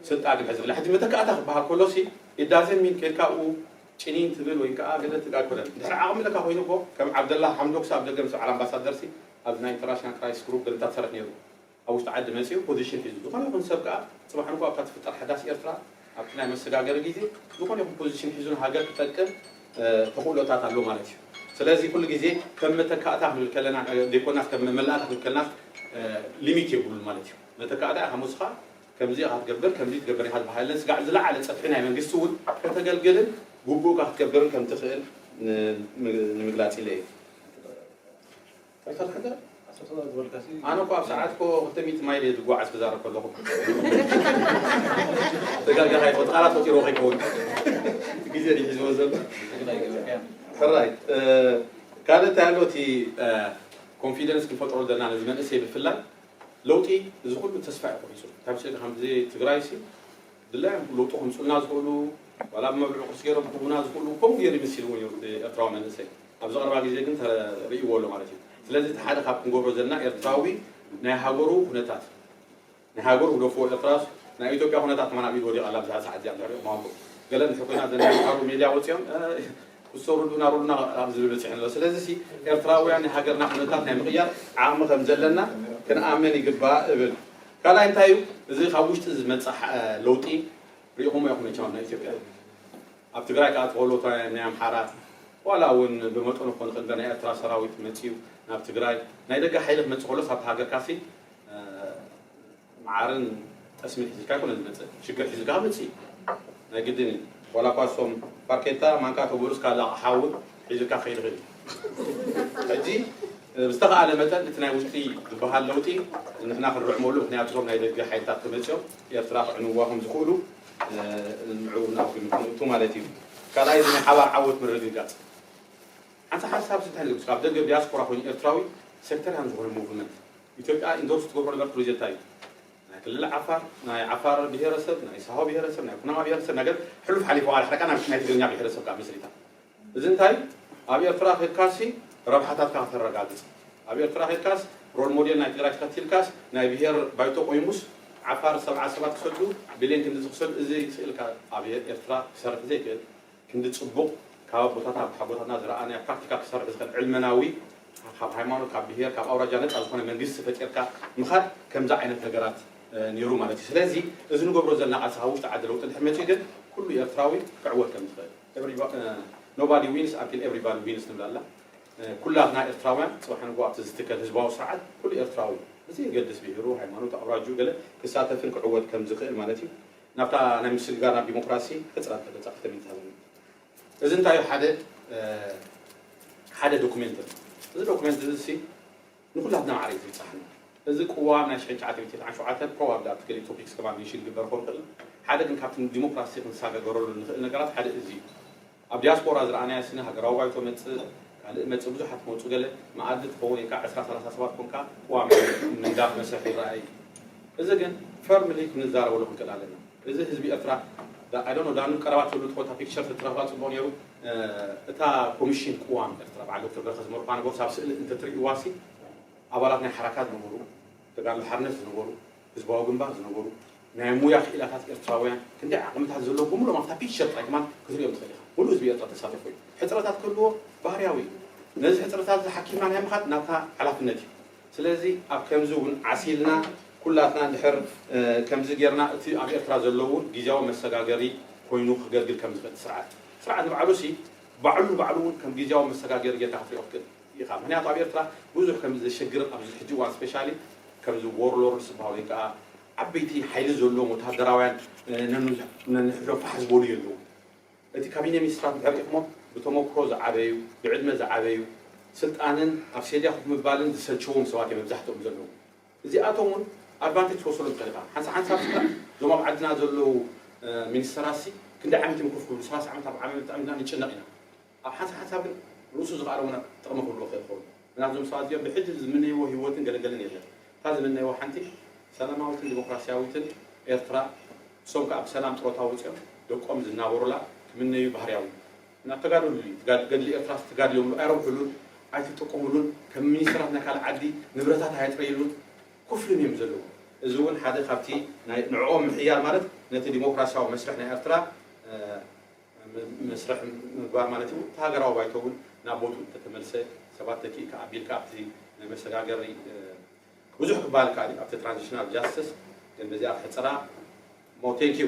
ስልጣን ንሕዚ ብላ ሕጂ መተካእታ ክበሃል ከሎሲ ኢዳዘሚን ኬድካ ኣብኡ ጭኒን ትብል ወይ ከኣ ገለ ትጋግረን እንድሕር ዓቅሚ ለካ ኮይኑ እኮ ከም ዓብደላ ሓምዶክስ ኣብ ደገ ምስ በዓል ኣምባሳደርሲ ኣብ ናይ ኢንተርናሽናል ክራይሲስ ግሩፕ ገለታ ትሰርሕ ኔሩ ኣብ ውሽጢ ዓዲ መጺኡ ፖዚሽን ሒዙ ዝኮነ ይኩን ሰብ ከኣ ጽባሕ ንግሆ ኣብታ ትፍጠር ሓዳስ ኤርትራ ኣብቲ ናይ መሰጋገሪ ግዜ ዝኮነ ይኩን ፖዚሽን ሒዙ ንሃገር ክጠቅም ተክእሎታት ኣሎ ማለት እዩ ስለዚ ኩሉ ግዜ ከም መተካእታ ክንብል ከለና ዘይኮናስ ከም መመላእታ ክንብል ከለናስ ሊሚት የብሉን ማለት እዩ መተካእታ ኢካ ሞስካ ከምዚ ኢኻ ትገብር ከምዚ ትገብር ኢኻ ዝበሃለለን ስጋዕ ዝለዓለ ጸፍሒ ናይ መንግስቲ እውን ከተገልግልን ግቡእካ ክትገብርን ከም ትኽእል ንምግላጽ ኢለ እየ። ዶክተር ሕገ ኣነ እኮ ኣብ ሰዓት እኮ ክልተ ሚእቲ ማይል እየ ዝጓዓዝ ክዛረብ ከለኹ ተጋጊኻ ይኸው ቃላት ፈጢሮ ከይከውን ግዜ ድዩ ሒዝዎ ዘሎ ሕራይ ካልእ እንታይ ኣሎ እቲ ኮንፊደንስ ክንፈጥሮ ዘለና ነዚ መንእሰይ ብፍላይ ለውጢ እዚ ኩሉ ተስፋ እዩ ቆሪጹ እንታይ መሰልካ ከምዚ ትግራይ ሲ ድላዮም ለውጢ ከምጹልና ዝኽእሉ ዋላ ብመብልዑ ቅርጺ ገይሮም ክህቡና ዝኽእሉ ከምኡ ገይሩ ይምስልዎም እዩ እቲ ኤርትራዊ መንእሰይ ኣብዚ ቀረባ ግዜ ግን ተርእይዎ ኣሎ ማለት እዩ ስለዚ እቲ ሓደ ካብ ክንገብሮ ዘለና ኤርትራዊ ናይ ሃገሩ ኩነታት ናይ ሃገሩ ግደፍዎ ኤርትራስ ናይ ኢትዮጵያ ኩነታት ከማን ኣብ ኢድ ወዲቓ ኣላ ብዛ ሰዓት እዚኣ ድሕሪኡ ክማኩም ገለ እንተ ኮይና ዘን ሓሳቡ ሜድያ ወጺኦም እሶ ርዱና ርዱና ኣብ ዝብል በጺሑ ኣሎ። ስለዚሲ ኤርትራውያን ናይ ሃገርና ኩነታት ናይ ምቕያር ዓቕሚ ከም ዘለና ክንኣምን ይግባእ እብል። ካልኣይ እንታይ እዩ እዚ ካብ ውሽጢ ዝመጽእ ለውጢ ርኢኹሞ ኢኹም መቸም ኣብ ኢትዮጵያ ኣብ ትግራይ ከኣ ተኸእሎት ናይ ኣምሓራ ዋላ እውን ብመጠኑ ክኾን ይኽእል እንበር ናይ ኤርትራ ሰራዊት መጺኡ ናብ ትግራይ ናይ ደገ ሓይሊ ክመጽእ ከሎስ ኣብ ሃገርካሲ መዓርን ጠስምን ሒዝልካ ኣይኮነን ዝመጽእ ሽግር ሒዝልካ ክመጽእ እዩ ናይ ግድን እዩ ዋላ እኳ እሶም ፋርኬታ ማንካ ከብዕሉ እስካላ ኣቕሓ እውን ሒዝልካ ክኸይድ ይኽእል እዩ ሕጂ ብዝተኻእለ መጠን እቲ ናይ ውሽጢ ዝበሃል ለውጢ ንሕና ክንርዕመሉ ምክንያቱ እቶም ናይ ደገ ሓይልታት ተመፅኦም ኤርትራ ክዕንዋ ከም ዝኽእሉ ምዕቡና ኮይኑ ክንእቱ ማለት እዩ ካልኣይ እዚ ናይ ሓባር ዓወት ምርግጋፅ ሓንቲ ሓሳብ እንታይ ንገብስ ካብ ደገ ዲያስፖራ ኮይኑ ኤርትራዊ ሴክተርያን ዝኾነ ሙቭመንት ኢትዮጵያ ኢንዶርስ ትገብሮ ነገር ፕሮጀታ እዩ ናይ ክልል ዓፋር ናይ ዓፋር ብሄረሰብ ናይ ሳሆ ብሄረሰብ ናይ ኩናማ ብሄረሰብ ነገር ሕሉፍ ሓሊፉ ዋላ ሕደ ናይ ትግርኛ ብሄረሰብ ከዓ መስሪታ እዚ እንታይ ኣብ ኤርትራ ከድካሲ ረብሓታትካ ከተረጋግፅ ኣብ ኤርትራ ከድካስ ሮል ሞዴል ናይ ትግራይ ተኸቲልካስ ናይ ብሄር ባይቶ ቆይሙስ ዓፋር ሰብዓ ሰባት ክሰዱ ቢልዮን ክንድዚ ክሰዱ እዚ ስእልካ ኣብ ኤርትራ ክሰርሕ ዘይክእል ክንዲ ጽቡቕ ካብ ኣቦታትና ካብ ሓጎታትና ዝረኣናዮ ፕራክቲካል ክሰርሕ ዝኽእል ዕልመናዊ ካብ ሃይማኖት ካብ ብሄር ካብ ኣውራጃ ነጻ ዝኾነ መንግስቲ ፈጢርካ ምኻድ ከምዚ ዓይነት ነገራት ኔሩ ማለት እዩ ስለዚ እዚ ንገብሮ ዘለና ቃልሲ ካብ ውሽጢ ዓዲ ለውጢ እንድሕር መጺኡ ግን ኩሉ ኤርትራዊ ክዕወት ከም ዝኽእል Nobody wins until everybody wins ትብል ኣላ ኩላትና ኤርትራውያን ጽባሕ ንግሆ ኣብቲ ዝትከል ህዝባዊ ስርዓት ኩሉ ኤርትራዊ ብዘየገድስ ብሄሩ ሃይማኖቱ ኣውራጅኡ ገለ ክሳተፍን ክዕወት ከም ዝኽእል ማለት እዩ ናብታ ናይ ምስግጋር ናብ ዲሞክራሲ ሕጽረት ተበጻሕቲ ተመዝሃበሉ እዚ እንታይ እዩ ሓደ ሓደ ዶኩሜንት ኣሎ እዚ ዶኩሜንት እዚ ሲ ንኩላትና ማዕረ እዩ ዝብጻሕና እዚ ቅዋም ናይ ሽሕን ትሽዓተ ሚእቲ ትስዓን ሸውዓተን ፕሮባብሊ ኣብቲ ገሊኡ ቶፒክስ ከማን ሜንሽን ክግበር ክኸውን ይኽእል ሓደ ግን ካብቲ ንዲሞክራሲ ክንሳገገረሉ ንኽእል ነገራት ሓደ እዚ እዩ ኣብ ዲያስፖራ ዝረኣናያ ስነ ሃገራዊ ባይቶ መጽእ ካልእ መጽእ ብዙሓት ክመጹ ገለ መኣዲ ትኸውን ኢልካ ዕስራ ሰላሳ ሰባት ኮንካ ቅዋም ናይ ምንዳፍ መስርሕ ይረኣ እዩ እዚ ግን ፈርምሊ ክንዛረበሉ ክንክእል ኣለና እዚ ህዝቢ ኤርትራ I don't know ዳኑ ቀረባ ትብሉ ትኾታ ፒክቸር ተትረኽባ ጽቡቕ ነይሩ እታ ኮሚሽን ቅዋም ኤርትራ በዓል ዶክተር በረኸት ዝመርሑዋ ነበሩ ሳብ ስእሊ እንተትርእይዋሲ ኣባላት ናይ ሓራካ ዝነበሩ ተጋድሎ ሓርነት ዝነበሩ፣ ህዝባዊ ግንባር ዝነበሩ፣ ናይ ሙያ ክኢላታት ኤርትራውያን፣ ክንደይ ዓቕምታት ዘለዎም ብምሉኦም ኣብታ ፒክቸር ጥራይ ከማን ክትርእዮም ትኽእል ኢኻ። ምሉእ ህዝቢ ኤርትራ ተሳተፎ እዩ። ሕጽረታት ክህልዎ ባህርያዊ እዩ። ነዚ ሕጽረታት እዚ ሓኪምና ናይ ምኻድ ናትና ሓላፍነት እዩ። ስለዚ ኣብ ከምዚ እውን ዓስ ኢልና ኩላትና እንድሕር ከምዚ ጌርና እቲ ኣብ ኤርትራ ዘሎ እውን ግዝያዊ መሰጋገሪ ኮይኑ ከገልግል ከም ዝኽእል እቲ ስርዓት ስርዓት ንባዕሉሲ ባዕሉ ንባዕሉ እውን ከም ግዝያዊ መሰጋገሪ ጌርካ ክትርእዮ ክትክእል ኢኻ ምክንያቱ ኣብ ኤርትራ ብዙሕ ከምዚ ዘሸግር ኣብዚ ሕጂ እዋን ስፔሻሊ ከምዚ ዎርሎርድስ ዝበሃሉ ወይ ከኣ ዓበይቲ ሓይሊ ዘለዎም ወተሃደራውያን ነንሕድሕዶም ፋሕ ዝበሉ የለዉን እቲ ካቢኔ ሚኒስትራት እንድሕር ርኢኽሞ ብተመኩሮ ዝዓበዩ ብዕድመ ዝዓበዩ ስልጣንን ኣብ ሴድያ ኮፍ ምባልን ዝሰልቸዎም ሰባት እዮም መብዛሕትኦም ዘለዉ እዚኣቶም እውን ኣድቫንቴጅ ክትወስደሎም ትኽእል ኢኻ ሓንሳብ ሓንሳብ ስከ እዞም ኣብ ዓድና ዘለዉ ሚኒስተራትሲ ክንደይ ዓመት እዮም ኮፍ ክብሉ ሰላሳ ዓመት ኣርብዓ ዓመት ንጭነቕ ኢና ኣብ ሓንሳእ ሓንሳብ ግን ርእሱ ዝቐኣረሙና ጥቕሚ ክህልዎ ይኽእል ይኸውን። ግና እዞም ሰባት እዚኦም ብሕጂ ዝምነይዎ ህይወትን ገለገልን የለን። እታ ዝምነይዋ ሓንቲ ሰላማዊትን ዲሞክራሲያዊትን ኤርትራ ንሶም ከኣ ብሰላም ጥሮታ ወጺኦም ደቆም ዝናበሩላ ክምነዩ ባህርያዊ እዩ። ናብ ተጋደሉ እዩ። ገድሊ ኤርትራስ ትጋድልዮምሉ ኣይረብሑሉን፣ ኣይትጥቅሙሉን፣ ከም ሚኒስተራት ናይ ካልእ ዓዲ ንብረታት ኣየጥረይሉን፣ ኩፍልን እዮም ዘለዉ። እዚ እውን ሓደ ካብቲ ናይ ንዕኦም ምሕያል ማለት ነቲ ዲሞክራሲያዊ መስርሕ ናይ ኤርትራ መስርሕ ምግባር ማለት እዩ። እቲ ሃገራዊ ባይቶ እውን ናብ ቦትኡ እንተተመልሰ፣ ሰባት ተኪእካ ኣቢልካ ኣብቲ ናይ መሰጋገሪ ብዙሕ ክበሃል ይከኣል እዩ፣ ኣብቲ ትራንዚሽናል ጃስትስ ግን በዚኣ ክሕጽራ እሞ ቴንክ ዩ።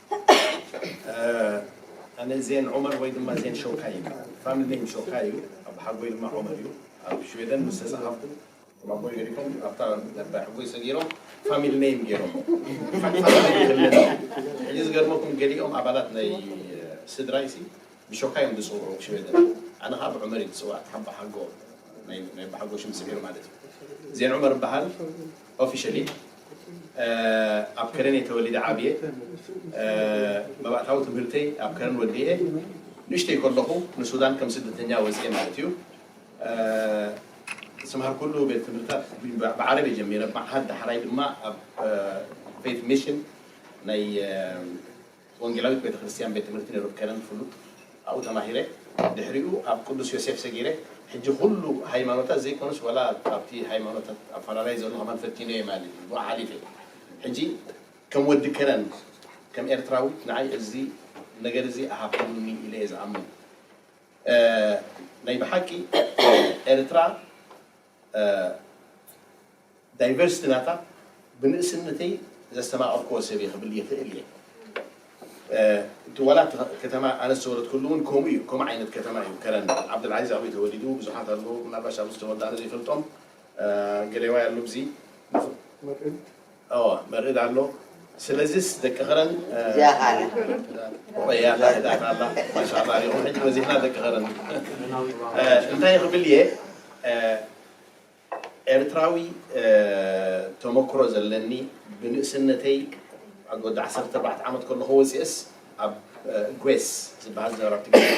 ኣነ ዜን ዑመር ወይ ድማ ዜን ሾካይ ይበሃል። ፋሚሊ ኔም ሾካይ እዩ። ኣቦሓጎይ ድማ ዑመር እዩ። ኣብ ሽወደን ምስ ተጻሓፍኩ ከም ኣቦይ ገዲፎም ኣብታ ናይ ኣቦሓጎይ ሰጊሮም ፋሚሊ ኔም ገይሮሞ። ሕጂ ዝገርመኩም ገሊኦም ኣባላት ናይ ስድራይሲ ብሾካይ እዮም ዝጽውዑ ሽወደን። ኣነ ከኣ ብዑመር እየ ዝጽዋዕ እቲ ኣቦሓጎ ናይ ኣቦሓጎ ሽም ስዒሩ ማለት እዩ። ዜን ዑመር እበሃል። Officially ኣብ ከረኔ ተወሊደ ዓብየ መባእታዊ ትምህርተይ ኣብ ከረን ወዲኤ ንእሽተይ ከለኹ ንሱዳን ከም ስደተኛ ወጺኤ ማለት እዩ ዝተምሃርኩሉ ቤት ትምህርታት ብዓረብ እየ ጀሚረ መዓሃድ ዳሕራይ ድማ ኣብ ፌት ሚሽን ናይ ወንጌላዊት ቤተ ክርስትያን ቤት ትምህርቲ ነይሩ ከረን ፍሉጥ ኣብኡ ተማሂረ ድሕሪኡ ኣብ ቅዱስ ዮሴፍ ሰጊረ ሕጂ ኩሉ ሃይማኖታት ዘይኮነስ ወላ ኣብቲ ሃይማኖታት ኣፈላላይ ዘሎ ከማን ፈቲነ እየ ማለት እዩ ብኡ ሓሊፈ ሕጂ ከም ወዲ ከረን ከም ኤርትራዊት ንዓይ እዚ ነገር እዚ ኣሃፍሉኒ ኢለ እየ ዝኣምን ናይ ብሓቂ ኤርትራ ዳይቨርስቲ ናታ ብንእስነተይ ዘስተማቐርክዎ ሰብ እየ ክብል ይኽእል እየ። እቲ ዋላ እቲ ከተማ ኣነ ዝተወለድኩሉ እውን ከምኡ እዩ፣ ከምኡ ዓይነት ከተማ እዩ ከረን። ዓብደልዓዚዝ ኣበይ ተወሊዱ? ብዙሓት ኣለዉ ምናልባሽ ኣብዚ ዝተወልዱ ኣነ ዘይፈልጦም ገሌዋይ ኣሎ ብዚ። ኣወ መርኢድ ኣሎ ስለዚስ ደቂ ከረን ዚያኻነ ቁረያታ ህዳት ኣላ ማሻላ ኣሊኹም ሕጂ በዚሕና ደቂ ከረን እንታይ ክብል እየ ኤርትራዊ ተመክሮ ዘለኒ ብንእስነተይ ኣብ ወዲ ዓሰርተ ኣርባዕተ ዓመት ከለኹ ወፂእስ ኣብ ግሬስ ዝበሃል ዝነበረ ኣብቲ ግዜ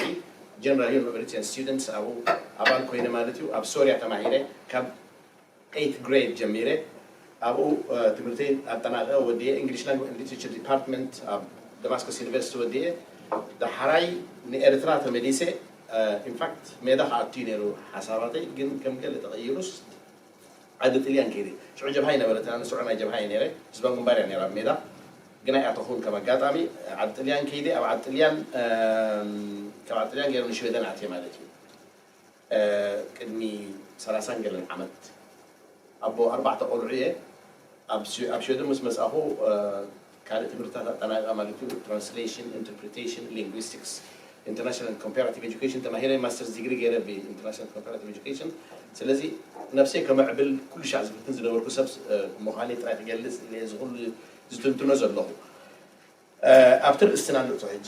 ጀነራል ዩኒቨርሲቲን ስቱደንትስ ኣብኡ ኣባል ኮይነ ማለት እዩ ኣብ ሶርያ ተማሂረ ካብ ኤይት ግሬድ ጀሚረ ኣብኡ ትምህርተይ ኣጠናቒቐ ወዲኤ ኢንግሊሽ ላንጉጅ ኤንድ ሊትሬቸር ዲፓርትመንት ኣብ ደማስኮስ ዩኒቨርሲቲ ወዲኤ ዳሓራይ ንኤርትራ ተመሊሰ ኢንፋክት ሜዳ ክኣቱ'ዩ ነይሩ ሓሳባተይ ግን ከም ገለ ተቐይሩስ ዓዲ ጥልያን ከይደ ሽዑ ጀብሃ ኣይነበረትን ኣነ ስዑር ናይ ጀብሃ እየ ነይረ ህዝባዊ ግንባር እያ ነይራ ኣብ ሜዳ ግን ኣይኣተኹን ከም ኣጋጣሚ ዓዲ ጥልያን ከይደ ኣብ ዓዲ ጥልያን ካብ ዓዲ ጥልያን ገይረ ንሽወደን ኣትየ ማለት እዩ ቅድሚ ሰላሳን ገለን ዓመት ኣቦ ኣርባዕተ ቆልዑ እየ። ኣብ ሽወደን ምስ መጻእኹ ካልእ ትምህርትታት ኣጠናቒቐ ማለት እዩ ትራንስሌሽን፣ ኢንተርፕሪቴሽን፣ ሊንጉስቲክስ፣ ኢንተርናሽናል ኮምፓራቲቭ ኤጁኬሽን ተማሂረ ማስተርስ ዲግሪ ገይረ ብኢንተርናሽናል ኮምፓራቲቭ ኤጁኬሽን። ስለዚ ነብሰይ ከመዕብል ኩሉ ሻዕ ዝፍትን ዝነበርኩ ሰብ ምዃነይ ጥራይ ክገልጽ እየ እዚ ኩሉ ዝትንትኖ ዘለኹ። ኣብቲ ርእስትና ንእቶ ሕጂ።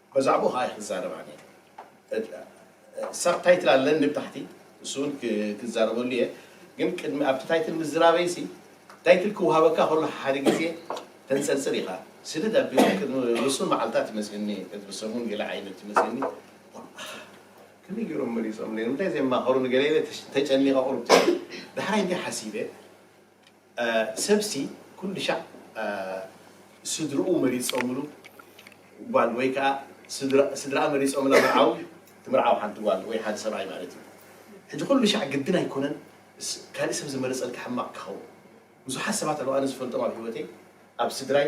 በዛዕብኡ ከኣ እየ ክዛረብ ኣነ ሳብ ታይትል ኣለኒ ብታሕቲ ንሱ እውን ክዛረበሉ እየ ግን ቅድሚ ኣብቲ ታይትል ምዝራበይ ሲ ታይትል ክውሃበካ ከሎ ሓደ ግዜ ተንጸርጽር ኢኻ ስድድ ኣቢሎም ቅድሚ ውሱን መዓልታት ይመስለኒ ቅድሚ ሰሙን ገለ ዓይነት ይመስለኒ ከመይ ገይሮም መሪጾም ንምንታይ ዘማኸሩ ንገለ ተጨኒቐ ቁርብ ዳሕራይ እንታይ ሓሲበ ሰብሲ ኩሉሻዕ ስድርኡ መሪጾምሉ ጓል ወይ ከኣ ስድርኣ መሪጾምላ መርዓዊ ትምርዓው ሓንቲ ጓል ወይ ሓደ ሰብኣይ ማለት እዩ። ሕጂ ኩሉሻዕ ግድን ኣይኮነን ካልእ ሰብ ዝመረጸልካ ሕማቕ ክኸውን። ብዙሓት ሰባት ኣለዉ ኣነ ዝፈልጦም ኣብ ሂወተይ ኣብ ስድራይ፣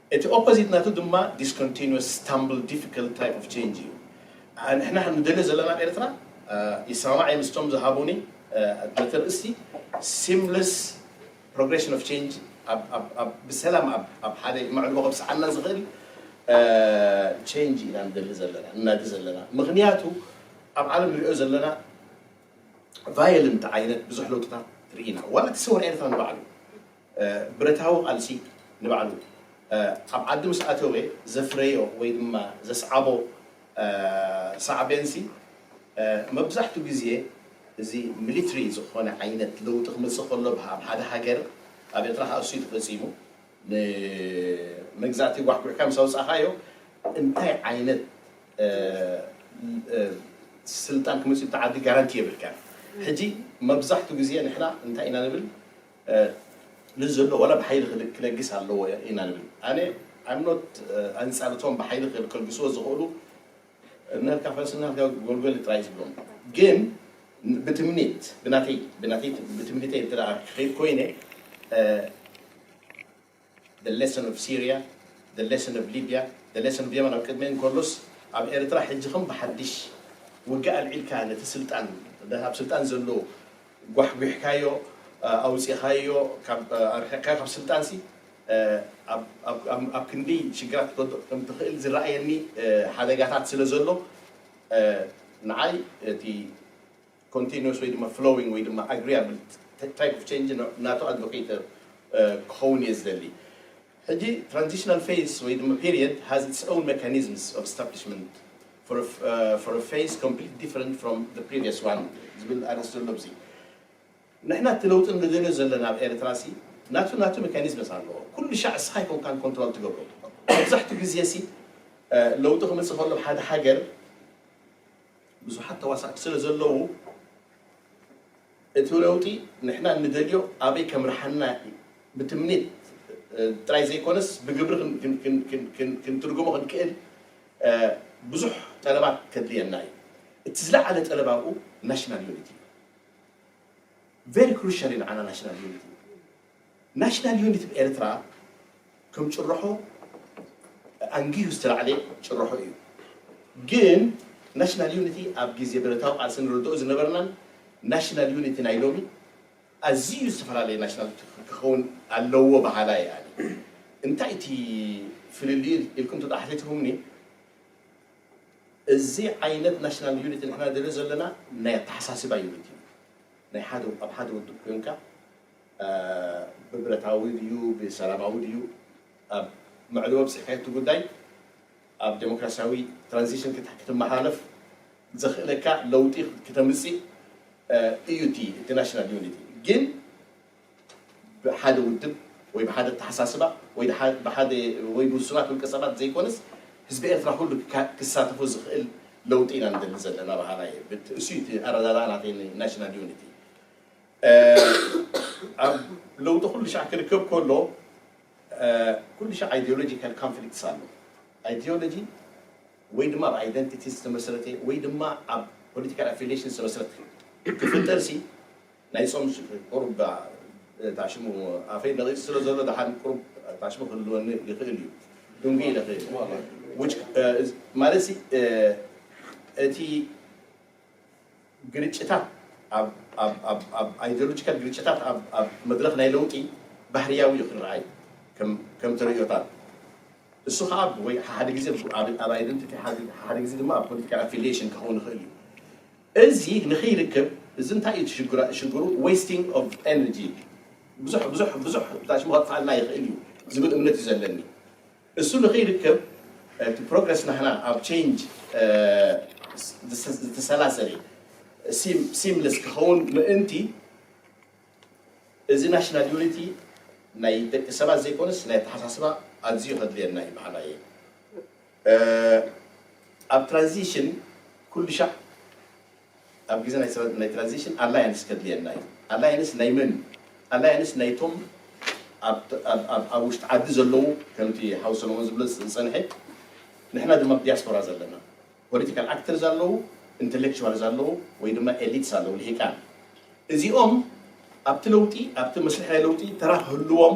እቲ ኦፖዚት ናቱ ድማ ዲስኮንቲኑስ ስታምብል ዲፊክልት ታይፕ ኦፍ ቼንጅ እዩ። ንሕና ከም ንደልዮ ዘለና ኣብ ኤርትራ ይሰማማዕ እየ ምስቶም ዝሃቡኒ ነቲ ኣርእስቲ ሲምለስ ፕሮግሬሽን ኦፍ ቼንጅ ኣብ ብሰላም ኣብ ሓደ መዕርፎ ከብጽሓና ዝኽእል ቼንጅ ኢና ንደሊ ዘለና ንናዲ ዘለና ምኽንያቱ ኣብ ዓለም ንሪኦ ዘለና ቫዮለንት ዓይነት ብዙሕ ለውጥታት ርኢና ዋላ እቲ ሰውራ ኤርትራ ንባዕሉ ብረታዊ ቃልሲ ንባዕሉ ኣብ ዓዲ ምስ ኣተወ ዘፍረዮ ወይ ድማ ዘስዓቦ ሳዕቤንሲ መብዛሕቱ ግዜ እዚ ሚሊትሪ ዝኾነ ዓይነት ለውጢ ክመጽእ ከሎ ኣብ ሓደ ሃገር ኣብ ኤርትራ ከኣ እሱዩ ተፈጺሙ ንመግዛእቲ ጓሕጒሕካ ምስ ኣውጻእካዮ እንታይ ዓይነት ስልጣን ክመጽእ ኣብቲ ዓዲ ጋራንቲ የብልካን ሕጂ መብዛሕቱ ግዜ ንሕና እንታይ ኢና ንብል ነዚ ዘሎ ዋላ ብሓይሊ ክለግስ ኣለዎ ኢና ንብል ኣነ ኣም ኖት ኣንጻር እቶም ብሓይሊ ከልግስዎ ዝኽእሉ እናልካ ፈረስ እናልካ ጎልጎል ጥራይ ዝብሎም ግን ብትምኒት ብናተይ ብናተይ ብትምኒተይ እንተ ክኸይድ ኮይነ The Lesson of Syria, The Lesson of Libya, The Lesson of Yemen ኣብ ቅድመይ እንከሎስ ኣብ ኤርትራ ሕጂ ከም ብሓድሽ ውግእ ኣልዒልካ ነቲ ስልጣን ነቲ ኣብ ስልጣን ዘሎ ጓሕጒሕካዮ ኣውጺኻዮ ካብ ኣርሒቕካዮ ካብ ስልጣንሲ ኣብ ኣብ ክንደይ ሽግራት ክትወድቕ ከም ትኽእል ዝረኣየኒ ሓደጋታት ስለ ዘሎ ንዓይ እቲ ኮንቲኑስ ወይ ድማ ፍሎዊንግ ወይ ድማ ኣግሪያብል ታይፕ ኦፍ ቼንጅ ናቱ ኣድቮኬት ክኸውን እየ ዝደሊ። ሕጂ ትራንዚሽናል ፌዝ ወይ ድማ ፔሪየድ ሃዝ ኢትስ ኦውን መካኒዝምስ ኦፍ ስታብሊሽመንት ፎር አ ፌዝ ኮምፕሊት ዲፈረንት ፍሮም ዘ ፕሪቪየስ ዋን ዝብል ኣርእስቲ ዘሎ ኣብዚ ንሕና እቲ ለውጢ ንደልዮ ዘለና ኣብ ኤርትራ ሲ ናቱ ናቱ መካኒዝምስ ኣለዎ ኩሉ ሻዕ እስኻ ኣይኮንካን ኮንትሮል ትገብሮ መብዛሕትኡ ግዜ ሲ ለውጢ ክመጽእ ከሎ ኣብ ሓደ ሃገር ብዙሓት ተዋሳእቲ ስለ ዘለዉ እቲ ለውጢ ንሕና ንደልዮ ኣበይ ከምርሓና ብትምኒት ጥራይ ዘይኮነስ ብግብሪ ክንትርጉሞ ክንክእል ብዙሕ ጠለባት ከድልየና እዩ። እቲ ዝለዓለ ጠለብ ኣብኡ ናሽናል ዩኒቲ እዩ። ቨሪ ክሩሻል እዩ ንዓና ናሽናል ዩኒቲ። ናሽናል ዩኒት ብ ኤርትራ ከም ጭርሖ ኣንጊሁ ዝተላዕለ ጭርሖ እዩ። ግን ናሽናል ዩኒቲ ኣብ ግዜ ብረታዊ ቃልሲ ንርድኦ ዝነበርናን ናሽናል ዩኒቲ ናይ ሎሚ ኣዝዩ ዝተፈላለየ ናሽናል ዩቲ ክኸውን ኣለዎ በሃላይ እየ ኣነ። እንታይ እቲ ፍልልዩ ኢልኩም ተተሓቲትኩምኒ እዚ ዓይነት ናሽናል ዩኒቲ ንሕና ንደልዮ ዘለና ናይ ኣተሓሳስባ ዩኒቲ እዩ። ናይ ሓደ ኣብ ሓደ ውድብ ኮንካ ብብረታዊ ድዩ ብሰላማዊ ድዩ ኣብ መዕልቦ ኣብጺሕካዮ እቲ ጉዳይ ኣብ ደሞክራሲያዊ ትራንዚሽን ክትመሓላለፍ ዘኽእለካ ለውጢ ክተምጽእ እዩ እቲ እቲ ናሽናል ዩኒቲ ግን ብሓደ ውድብ ወይ ብሓደ ኣተሓሳስባ ወይ ብሓደ ወይ ብውሱናት ውልቀ ሰባት ዘይኮነስ ህዝቢ ኤርትራ ኩሉ ክሳተፎ ዝኽእል ለውጢ ኢና ንደሊ ዘለና በሃላይ እየ። እሱ እቲ ኣረዳድኣ ናተይ ናሽናል ዩኒቲ ኣብ ለውጢ ኩሉሻዕ ክርከብ ከሎ ኩሉሻዕ ኣይዲዮሎጂካል ካንፍሊክትስ ኣሎ። ኣይዲዮሎጂ ወይ ድማ ኣብ ኣይደንቲቲ ዝተመስረተ ወይ ድማ ኣብ ፖለቲካል ኣፊልየሽን ዝተመስረተ ክፍጠርሲ ናይ ጾም ቁሩብ ታሽሙ ኣፈይ ነቒጹ ስለ ዘሎ ደሓን ቁሩብ ታሽሙ ክህልወኒ ይኽእል እዩ ድንጉይ ኢለ ማለትሲ እቲ ግርጭታት ኣብ ኣይድዮሎጂካል ግርጭታት ኣብ መድረኽ ናይ ለውጢ ባህርያዊ እዩ ክረኣይ ከም ተርእዮታት እሱ ከኣ ወይ ሓሓደ ግዜ ኣብ ኣይደንቲቲ ሓሓደ ግዜ ድማ ኣብ ፖለቲካል ኣፊልየሽን ክኸውን ይኽእል እዩ እዚ ንክይርክብ እዚ እንታይ እዩ ትሽግራ ሽግሩ ዌስቲንግ ኦቭ ኤነርጂ ብዙሕ ብዙሕ ብዙሕ ብታሽሙ ከጥፍኣልና ይኽእል እዩ ዝብል እምነት እዩ ዘለኒ። እሱ ንክይርከብ እቲ ፕሮግረስ ናህና ኣብ ቸይንጅ ዝተሰላሰለ ሲምለስ ክኸውን ምእንቲ እዚ ናሽናል ዩኒቲ ናይ ደቂ ሰባት ዘይኮነስ ናይ ኣተሓሳስባ ኣዝዩ ከድልየና እዩ በሃላይ እየ። ኣብ ትራንዚሽን ኩሉሻዕ ኣብ ግዜ ናይ ስረ ናይ ትራንዚሽን ኣላያንስ ከድልየና እዩ። ኣላያንስ ናይ መን እዩ? ኣላያንስ ናይቶም ኣብ ኣብ ኣብ ውሽጢ ዓዲ ዘለዉ ከምቲ ሓው ሰለሞን ዝብሎ ዝጸንሐ ንሕና ድማ ኣብ ዲያስፖራ ዘለና ፖለቲካል ኣክተርስ ኣለዉ፣ ኢንተሌክቹዋልስ ኣለዉ ወይ ድማ ኤሊትስ ኣለዉ ልሂቃን እዚኦም ኣብቲ ለውጢ ኣብቲ መስርሕ ናይ ለውጢ ተራ ክህልዎም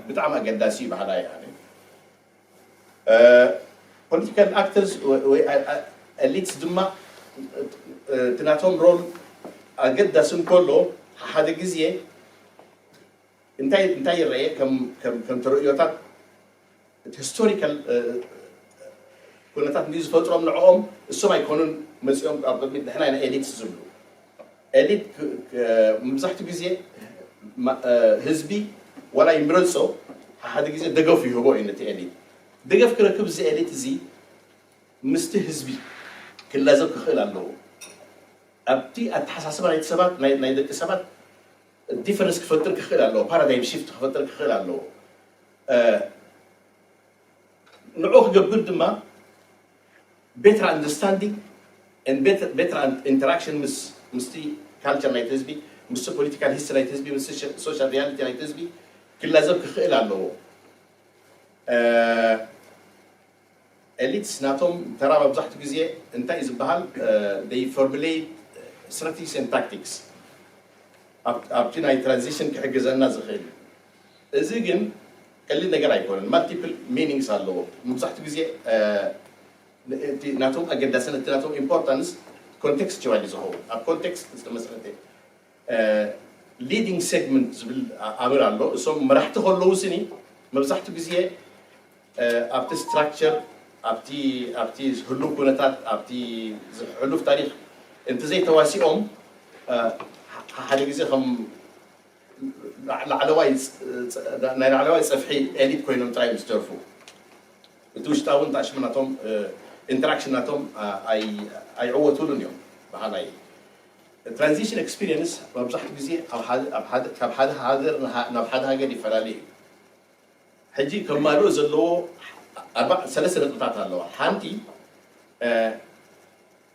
ብጣዕሚ ኣገዳሲ እዩ በሃላይ እየ ኣነ። ፖለቲካል ኣክተርስ ወይ ኤሊትስ ድማ እቲ ናቶም ሮል ኣገዳሲ እንከሎ ሓሓደ ግዜ እንታይ እንታይ ይረኤ ከም ተርእዮታት እቲ ሂስቶሪካል ኩነታት እንድዩ ዝፈጥሮም ንዕኦም እሶም ኣይኮኑን መጺኦም ኣብ ቅድሚት ንሕና ኢና ኤሊትስ ዝብሉ ኤሊት መብዛሕትኡ ግዜ ህዝቢ ዋላ ይምረጾ ሓሓደ ግዜ ደገፍ ይህቦ እዩ ነቲ ኤሊት። ደገፍ ክረክብ እዚ ኤሊት እዚ ምስቲ ህዝቢ ክላዘብ ክኽእል ኣለዎ። ኣብቲ ኣተሓሳስባ ናይቲ ሰባት ናይ ደቂ ሰባት ዲፈረንስ ክፈጥር ክኽእል ኣለዎ፣ ፓራዳይም ሺፍት ክፈጥር ክኽእል ኣለዎ። ንዕኡ ክገብር ድማ ቤተር ኣንደርስታንዲንግ and better better interaction ምስ ምስቲ ካልቸር ናይቲ ህዝቢ ምስቲ ፖለቲካል ሂስትሪ ናይቲ ህዝቢ ምስ ሶሻል ሪያሊቲ ናይቲ ህዝቢ ክላዘብ ክኽእል ኣለዎ። ኤሊትስ ናቶም ተራ መብዛሕትኡ ግዜ እንታይ እዩ ዝበሃል they formulate strategies and tactics ኣብቲ ናይ ትራንዚሽን ክሕግዘና ዝኽእል እዚ ግን ቀሊል ነገር ኣይኮነን ማልቲፕል ሚኒንግስ ኣለዎ ሙብዛሕቱ ግዜ እቲ ናቶም ኣገዳስነት እቲ ናቶም ኢምፖርታንስ ኮንቴክስቸዋል እዩ ዝኸውን ኣብ ኮንቴክስት ዝተመስረተ ሊዲንግ ሴግመንት ዝብል ኣምር ኣሎ እሶም መራሕቲ ከለዉ ስኒ መብዛሕቱ ግዜ ኣብቲ ስትራክቸር ኣብቲ ኣብቲ ህሉው ኩነታት ኣብቲ ሕሉፍ ታሪክ እንተዘይተዋሲኦም ሓደ ግዜ ከም ናይ ላዕለዋይ ጽፍሒ ኤሊት ኮይኖም ጥራይ እዮም ዝተርፉ እቲ ውሽጣዊ እንታሽሙ ናቶም ኢንተራክሽን ናቶም ኣይዕወቱሉን እዮም በሃላይ እየ። ትራንዚሽን ኤክስፒርየንስ መብዛሕትኡ ግዜ ካብ ሓደ ሃገር ናብ ሓደ ሃገር ይፈላለ እዩ። ሕጂ ከማልኦ ዘለዎ ሰለስተ ነጥብታት ኣለዋ። ሓንቲ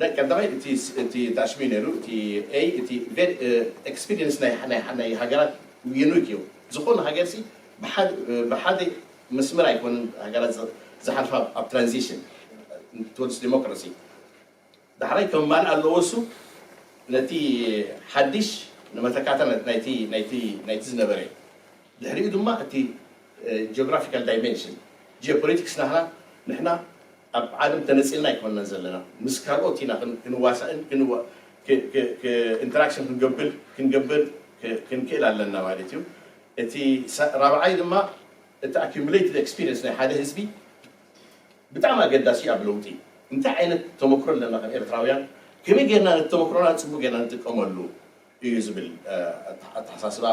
ናይ ቀዳማይ እቲ እቲ ታሽሚ ነይሩ እቲ A እቲ ቨሪ ኤክስፒሪየንስ ናይ ናይ ናይ ሃገራት ዩኒክ እዩ ዝኾነ ሃገር ሲ ብሓደ ብሓደ መስመር ኣይኮነን ሃገራት ዝሓልፋ ኣብ ትራንዚሽን ቱወርድስ ዲሞክራሲ ዳሕራይ ከማልእ ኣለዎ እሱ ነቲ ሓድሽ ንመተካእታ ናይቲ ናይቲ ናይቲ ዝነበረ ድሕሪኡ ድማ እቲ ጂኦግራፊካል ዳይመንሽን፣ ጂኦፖለቲክስ ናህና ንሕና ኣብ ዓለም ተነጺልና ኣይኮናን ዘለና ምስ ካልኦት ኢና ክንዋሳእን ኢንተራክሽን ክንገብር ክንገብር ክንክእል ኣለና ማለት እዩ። እቲ ራብዓይ ድማ እቲ ኣኩሙሌትድ ኤክስፒሪየንስ ናይ ሓደ ህዝቢ ብጣዕሚ ኣገዳሲ እዩ ኣብ ለውጢ። እንታይ ዓይነት ተመክሮ ኣለና ከም ኤርትራውያን ከመይ ጌርና ነቲ ተመክሮና ጽቡቕ ጌርና ንጥቀመሉ? እዩ ዝብል ኣተሓሳስባ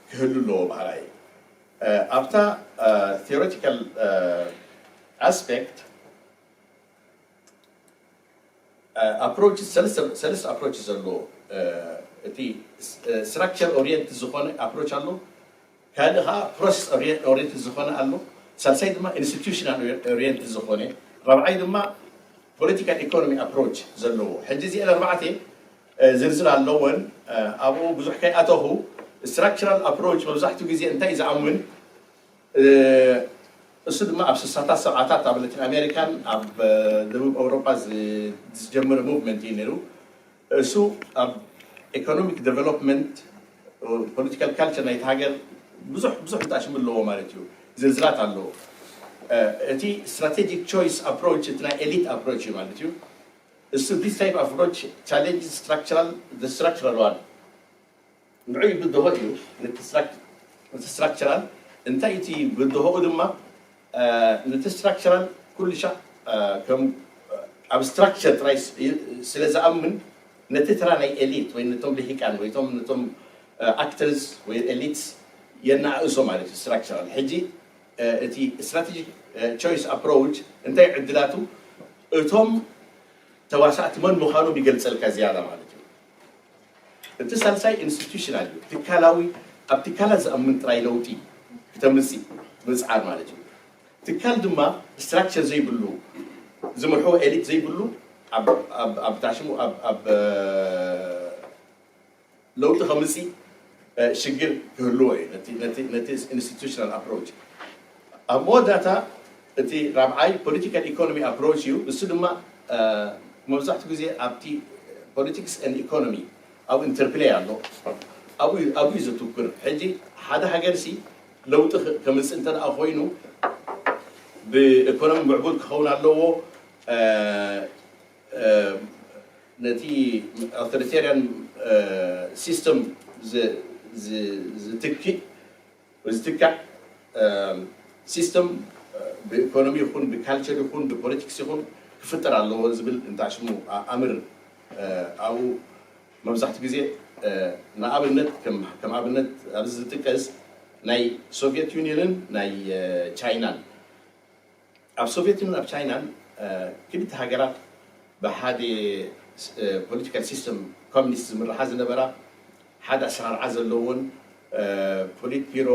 ክህሉ ኣለዎ በሃላይ እየ። ኣብታ ቲዮሪቲካል ኣስፔክት ኣፕሮችስ ሰለስተ ኣፕሮችስ ኣለዎ እቲ ስትራክቸር ኦሪየንትድ ዝኾነ ኣፕሮች ኣሎ፣ ካልእ ከኣ ፕሮሰስ ኦርየንትድ ዝኾነ ኣሎ፣ ሳልሳይ ድማ ኢንስቲቱሽናል ኦርየንትድ ዝኾነ፣ ራብዓይ ድማ ፖለቲካል ኢኮኖሚ ኣፕሮች ዘለዎ። ሕጂ እዚኤን ኣርባዕተ ዝርዝር ኣለወን፣ ኣብኡ ብዙሕ ከይኣተኹ፣ ስትራክቸራል ኣፕሮች መብዛሕትኡ ግዜ እንታይ እዩ ዝኣምን፣ እሱ ድማ ኣብ ስሳታት ሰብዓታት ኣብ ላቲን ኣሜሪካን ኣብ ደቡብ ኣውሮጳ ዝጀመረ ሙቭመንት እዩ ነይሩ። እሱ ኣብ ኤኮኖሚክ ደቨሎፕመንት ፖለቲካል ካልቸር ናይቲ ሃገር ብዙሕ ብዙሕ እንተኣሽሙ ኣለዎ ማለት እዩ ዝርዝራት ኣለዎ እቲ ስትራቴጂክ ቾይስ ኣፕሮች እቲ ናይ ኤሊት ኣፕሮች እዩ ማለት እዩ እሱ ዲስ ታይፕ ኣፕሮች ቻሌንጅ ስትራክቸራል ስትራክቸራል ዋን ንዑይ ብድሆ እዩ ንቲ ስትራክቸራል እንታይ እቲ ብድሆኡ ድማ ንቲ ስትራክቸራል ኩሉሻዕ ከም ኣብ ስትራክቸር ጥራይ ስለ ዝኣምን ነቲ ተራ ናይ ኤሊት ወይ ነቶም ልሂቃን ወይ ቶም ነቶም ኣክተርስ ወይ ኤሊትስ የነኣእሶ ማለት እዩ ስትራክቸራል ሕጂ እቲ ስትራቴጂክ ቾይስ ኣፕሮች እንታይ ዕድላቱ እቶም ተዋሳእቲ መን ምዃኖም ይገልጸልካ ዝያዳ ማለት እዩ እቲ ሳልሳይ ኢንስቲቱሽናል እዩ፣ ትካላዊ፣ ኣብ ትካላት ዝኣምን ጥራይ ለውጢ ክተምጽእ ምጽዓር ማለት እዩ። ትካል ድማ ስትራክቸር ዘይብሉ፣ ዝምርሕዎ ኤሊት ዘይብሉ ኣብ ኣብ ኣብ ታሽሙ ኣብ ኣብ ለውጢ ከምጽእ ሽግር ክህልዎ እዩ ነቲ ነቲ ነቲ ኢንስቲቱሽናል ኣፕሮች ኣብ መወዳእታ እቲ ራብዓይ ፖለቲካል ኢኮኖሚ ኣፕሮች እዩ ንሱ ድማ መብዛሕትኡ ግዜ ኣብቲ ፖለቲክስ ን ኢኮኖሚ ኣብ ኢንተርፕለይ ኣሎ ኣብኡ ኣብኡ እዩ ዘትኩር ሕጂ ሓደ ሃገርሲ ለውጢ ከምፅእ እንተ ኮይኑ ብኢኮኖሚ ምዕቡል ክኸውን ኣለዎ ነቲ ኣውቶሪቴርያን ሲስተም ዝትክእ ወይ ዝትካእ ሲስተም ብኢኮኖሚ ይኹን ብካልቸር ይኹን ብፖለቲክስ ይኹን ክፍጠር ኣለዎ ዝብል እንታይ ሽሙ ኣምር ኣብኡ መብዛሕትኡ ግዜ ንኣብነት ከም ኣብነት ኣብዚ ዝጥቀስ ናይ ሶቪየት ዩኒየንን ናይ ቻይናን ኣብ ሶቭየት ይኹን ኣብ ቻይናን ክልተ ሃገራት ብሓደ ፖለቲካል ሲስተም ኮሚኒስት ዝምርሓ ዝነበራ ሓደ ኣሰራርዓ ዘለዎን ፖሊት ቢሮ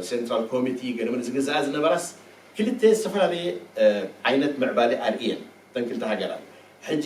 ሴንትራል ኮሚቲ ገለመለ ዝግዝኣ ዝነበራስ ክልተ ዝተፈላለየ ዓይነት ምዕባሌ ኣርእየን እተን ክልተ ሃገራት ሕጂ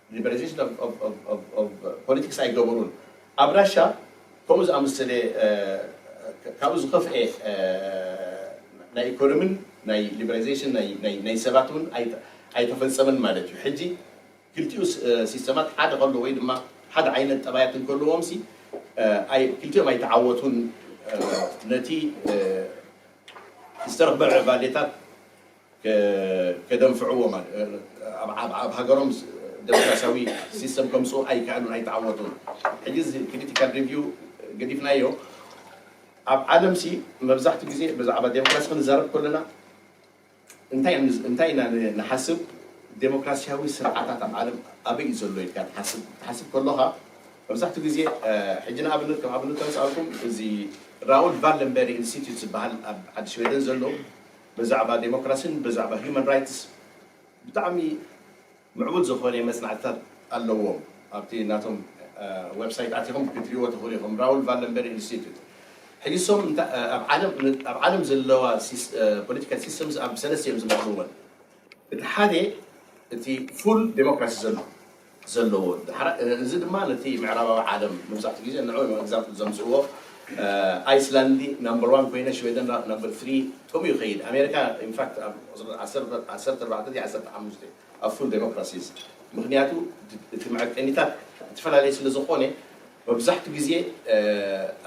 ሊበራሊዜሽን ኦቭ ፖለቲክስ ኣይገበሩን። ኣብ ራሻ ከምኡ ዝኣመሰለ ካብኡ ዝኸፍኤ ናይ ኢኮኖምን ናይ ሊበራሊዜሽን ናይ ሰባት እውን ኣይተፈጸመን ማለት እዩ። ሕጂ ክልቲኡ ሲስተማት ሓደ ከሎ ወይ ድማ ሓደ ዓይነት ጠባያት እንከለዎምሲ ክልቲኦም ኣይተዓወቱን ነቲ ዝተረኽበ ምዕባሌታት ከደንፍዕዎ ማለት ኣብ ሃገሮም ደሞክራሲያዊ ሲስተም ከምጽኡ ኣይከኣሉን ኣይተዓወቱን ሕጂ እዚ ክሪቲካል ሪቪው ገዲፍናዮ ኣብ ዓለም ሲ መብዛሕትኡ ግዜ ብዛዕባ ደሞክራሲ ክንዛረብ ከለና እንታይ እንታይ ኢና ንሓስብ ደሞክራሲያዊ ስርዓታት ኣብ ዓለም ኣበይ እዩ ዘሎ ኢልካ ትሓስብ ትሓስብ ከሎኻ መብዛሕትኡ ግዜ ሕጂ ንኣብነት ከም ኣብነት ተምጻልኩም እዚ ራውል ቫለንበሪ ኢንስቲትዩት ዝበሃል ኣብ ዓዲ ሽወደን ዘሎ በዛዕባ ደሞክራሲን በዛዕባ ሂዩማን ራይትስ ብጣዕሚ ምዕቡል ዝኾነ መጽናዕትታት ኣለዎም ኣብቲ ናቶም ወብሳይት ኣቲኹም ክትሪእዎ ትኽእሉ ኢኹም ራውል ቫለንበሪ ኢንስቲትዩት ሕጂ እሶም ኣብ ዓለም ዘለዋ ፖለቲካል ሲስተምስ ኣብ ሰለስተ እዮም ዝመቕልወን እቲ ሓደ እቲ ፉል ደሞክራሲ ዘሎ ዘለዎ እዩ ዳሓር እዚ ድማ ነቲ ምዕራባዊ ዓለም መብዛሕትኡ ግዜ ንዑ እዮም ኣግዛምፕል ዘምጽእዎ ኣይስላንዲ ናምበር ዋን ኮይነ ሽወደን ኣብ ናምበር ትሪ ከምኡ ይኸይድ ኣሜሪካ ኢንፋክት ኣብ ቁጽሪ ዓሰርተ ኣርባዕተ ድዩ ዓሰርተ ሓሙሽተ ኣብ ፉል ደሞክራሲስ ምኽንያቱ እቲ መዐቀኒታት እትፈላለየ ስለ ዝኾነ መብዛሕትኡ ግዜ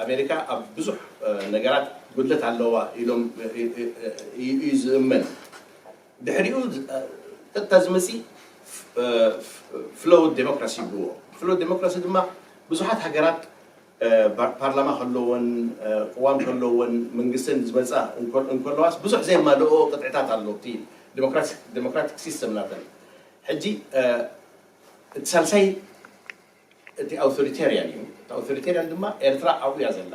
ኣሜሪካ ኣብ ብዙሕ ነገራት ጉድለት ኣለዋ ኢሎም እዩ ዝእመን። ድሕሪኡ ቀጥታ ዝመፅእ ፍሎው ዴሞክራሲ ይብልዎ። ፍሎው ዴሞክራሲ ድማ ብዙሓት ሃገራት ፓርላማ ከለወን ቅዋም ከለወን መንግስተን ዝመፃ እንከለዋስ ብዙሕ ዘየማልእኦ ቅጥዕታት ኣሎ እቲ ዴሞክራቲክ ሲስተም ናተን። ሕጂ እቲ ሳልሳይ እቲ ኣውቶሪቴርያን እዩ። እቲ ኣውቶሪቴርያን ድማ ኤርትራ ኣብኡ እያ ዘላ።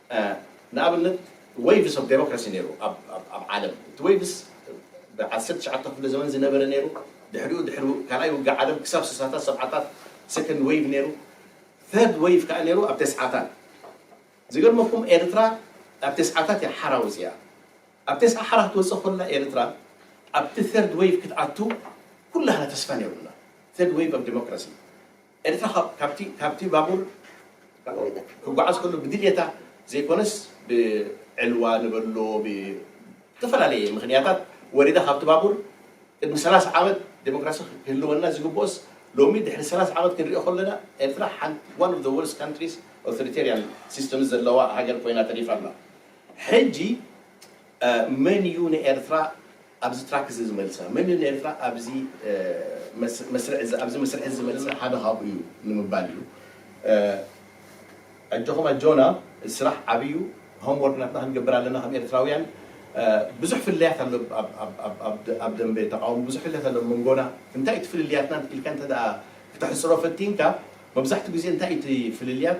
ንኣብነት ወይቭስ ኦቭ ደሞክራሲ ነይሩ ኣብ ዓለም። እቲ ወይቭስ ብ ዓሰርተ ትሽዓተ ክፍለ ዘመን ዝነበረ ነይሩ። ድሕሪኡ ድሕሪ ካልኣይ ውግእ ዓለም ክሳብ ስሳታት ሰብዓታት ሰከንድ ወይቭ ነይሩ። ተርድ ወይቭ ከኣ ነይሩ ኣብ ተስዓታት። ዝገርመኩም ኤርትራ ኣብ ተስዓታት እያ ሓራ ወጺኣ። ኣብ ተስዓ ሓራ ክትወጽእ ከላ ኤርትራ ኣብቲ ተርድ ወይቭ ክትኣቱ ኩላህና ተስፋ ነይሩና። ተርድ ወይቭ ኦቭ ደሞክራሲ። ኤርትራ ካብ ካብቲ ካብቲ ባቡር ክጓዓዝ ከሎ ብድልየታ ዘይኮነስ ብዕልዋ ንበሎ ብዝተፈላለየ ምኽንያታት ወሪዳ ካብቲ ባቡር ቅድሚ ሰላሳ ዓመት ዴሞክራሲ ክህልወና ዝግብኦስ ሎሚ ድሕሪ ሰላሳ ዓመት ክንሪኦ ከሎና ኤርትራ ሓንቲ one of the worst countries authoritarian systems ዘለዋ ሃገር ኮይና ተሪፋ ኣላ ሕጂ መን እዩ ንኤርትራ ኣብዚ ትራክ እዚ ዝመልሳ? መን እዩ ንኤርትራ ኣብዚ መስርዕ እዚ ኣብዚ መስርሕ እዚ ዝመልሳ? ሓደ ካብኡ እዩ ንምባል እዩ። ኣጆኹም ኣጆና እዚ ስራሕ ዓቢ እዩ። ሆም ወርክ ናትና ክንገብር ኣለና ከም ኤርትራውያን። ብዙሕ ፍልልያት ኣሎ ኣብ ደምበ ተቓውሞ ብዙሕ ፍልልያት ኣሎ ኣብ መንጎና። እንታይ እዩ እቲ ፍልልያትና ኢልካ እንተ ድኣ ክተሕጽሮ ፈቲንካ መብዛሕትኡ ግዜ እንታይ እዩ እቲ ፍልልያት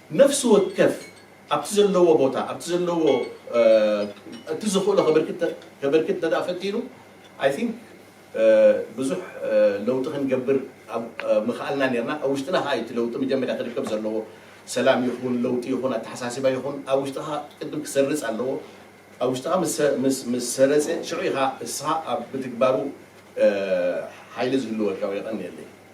ነፍሲ ወከፍ ኣብቲ ዘለዎ ቦታ ኣብቲ ዘለዎ እቲ ዝኽእሎ ከበርክት እንተድኣ ፈቲኑ ኣይ ቲንክ ብዙሕ ለውጢ ክንገብር ምኸኣልና ኔርና። ኣብ ውሽጥና ከኣ እዩ እቲ ለውጢ መጀመርያ ክርከብ ዘለዎ። ሰላም ይኹን ለውጢ ይኹን ኣተሓሳስባ ይኹን ኣብ ውሽጥኻ ቅድም ክሰርጽ ኣለዎ። ኣብ ውሽጥኻ ምስ ሰረጸ ሽዑ ኢኻ እስኻ ኣብ ምትግባሩ ሓይሊ ዝህልወካ ወይ የቐንየለይ።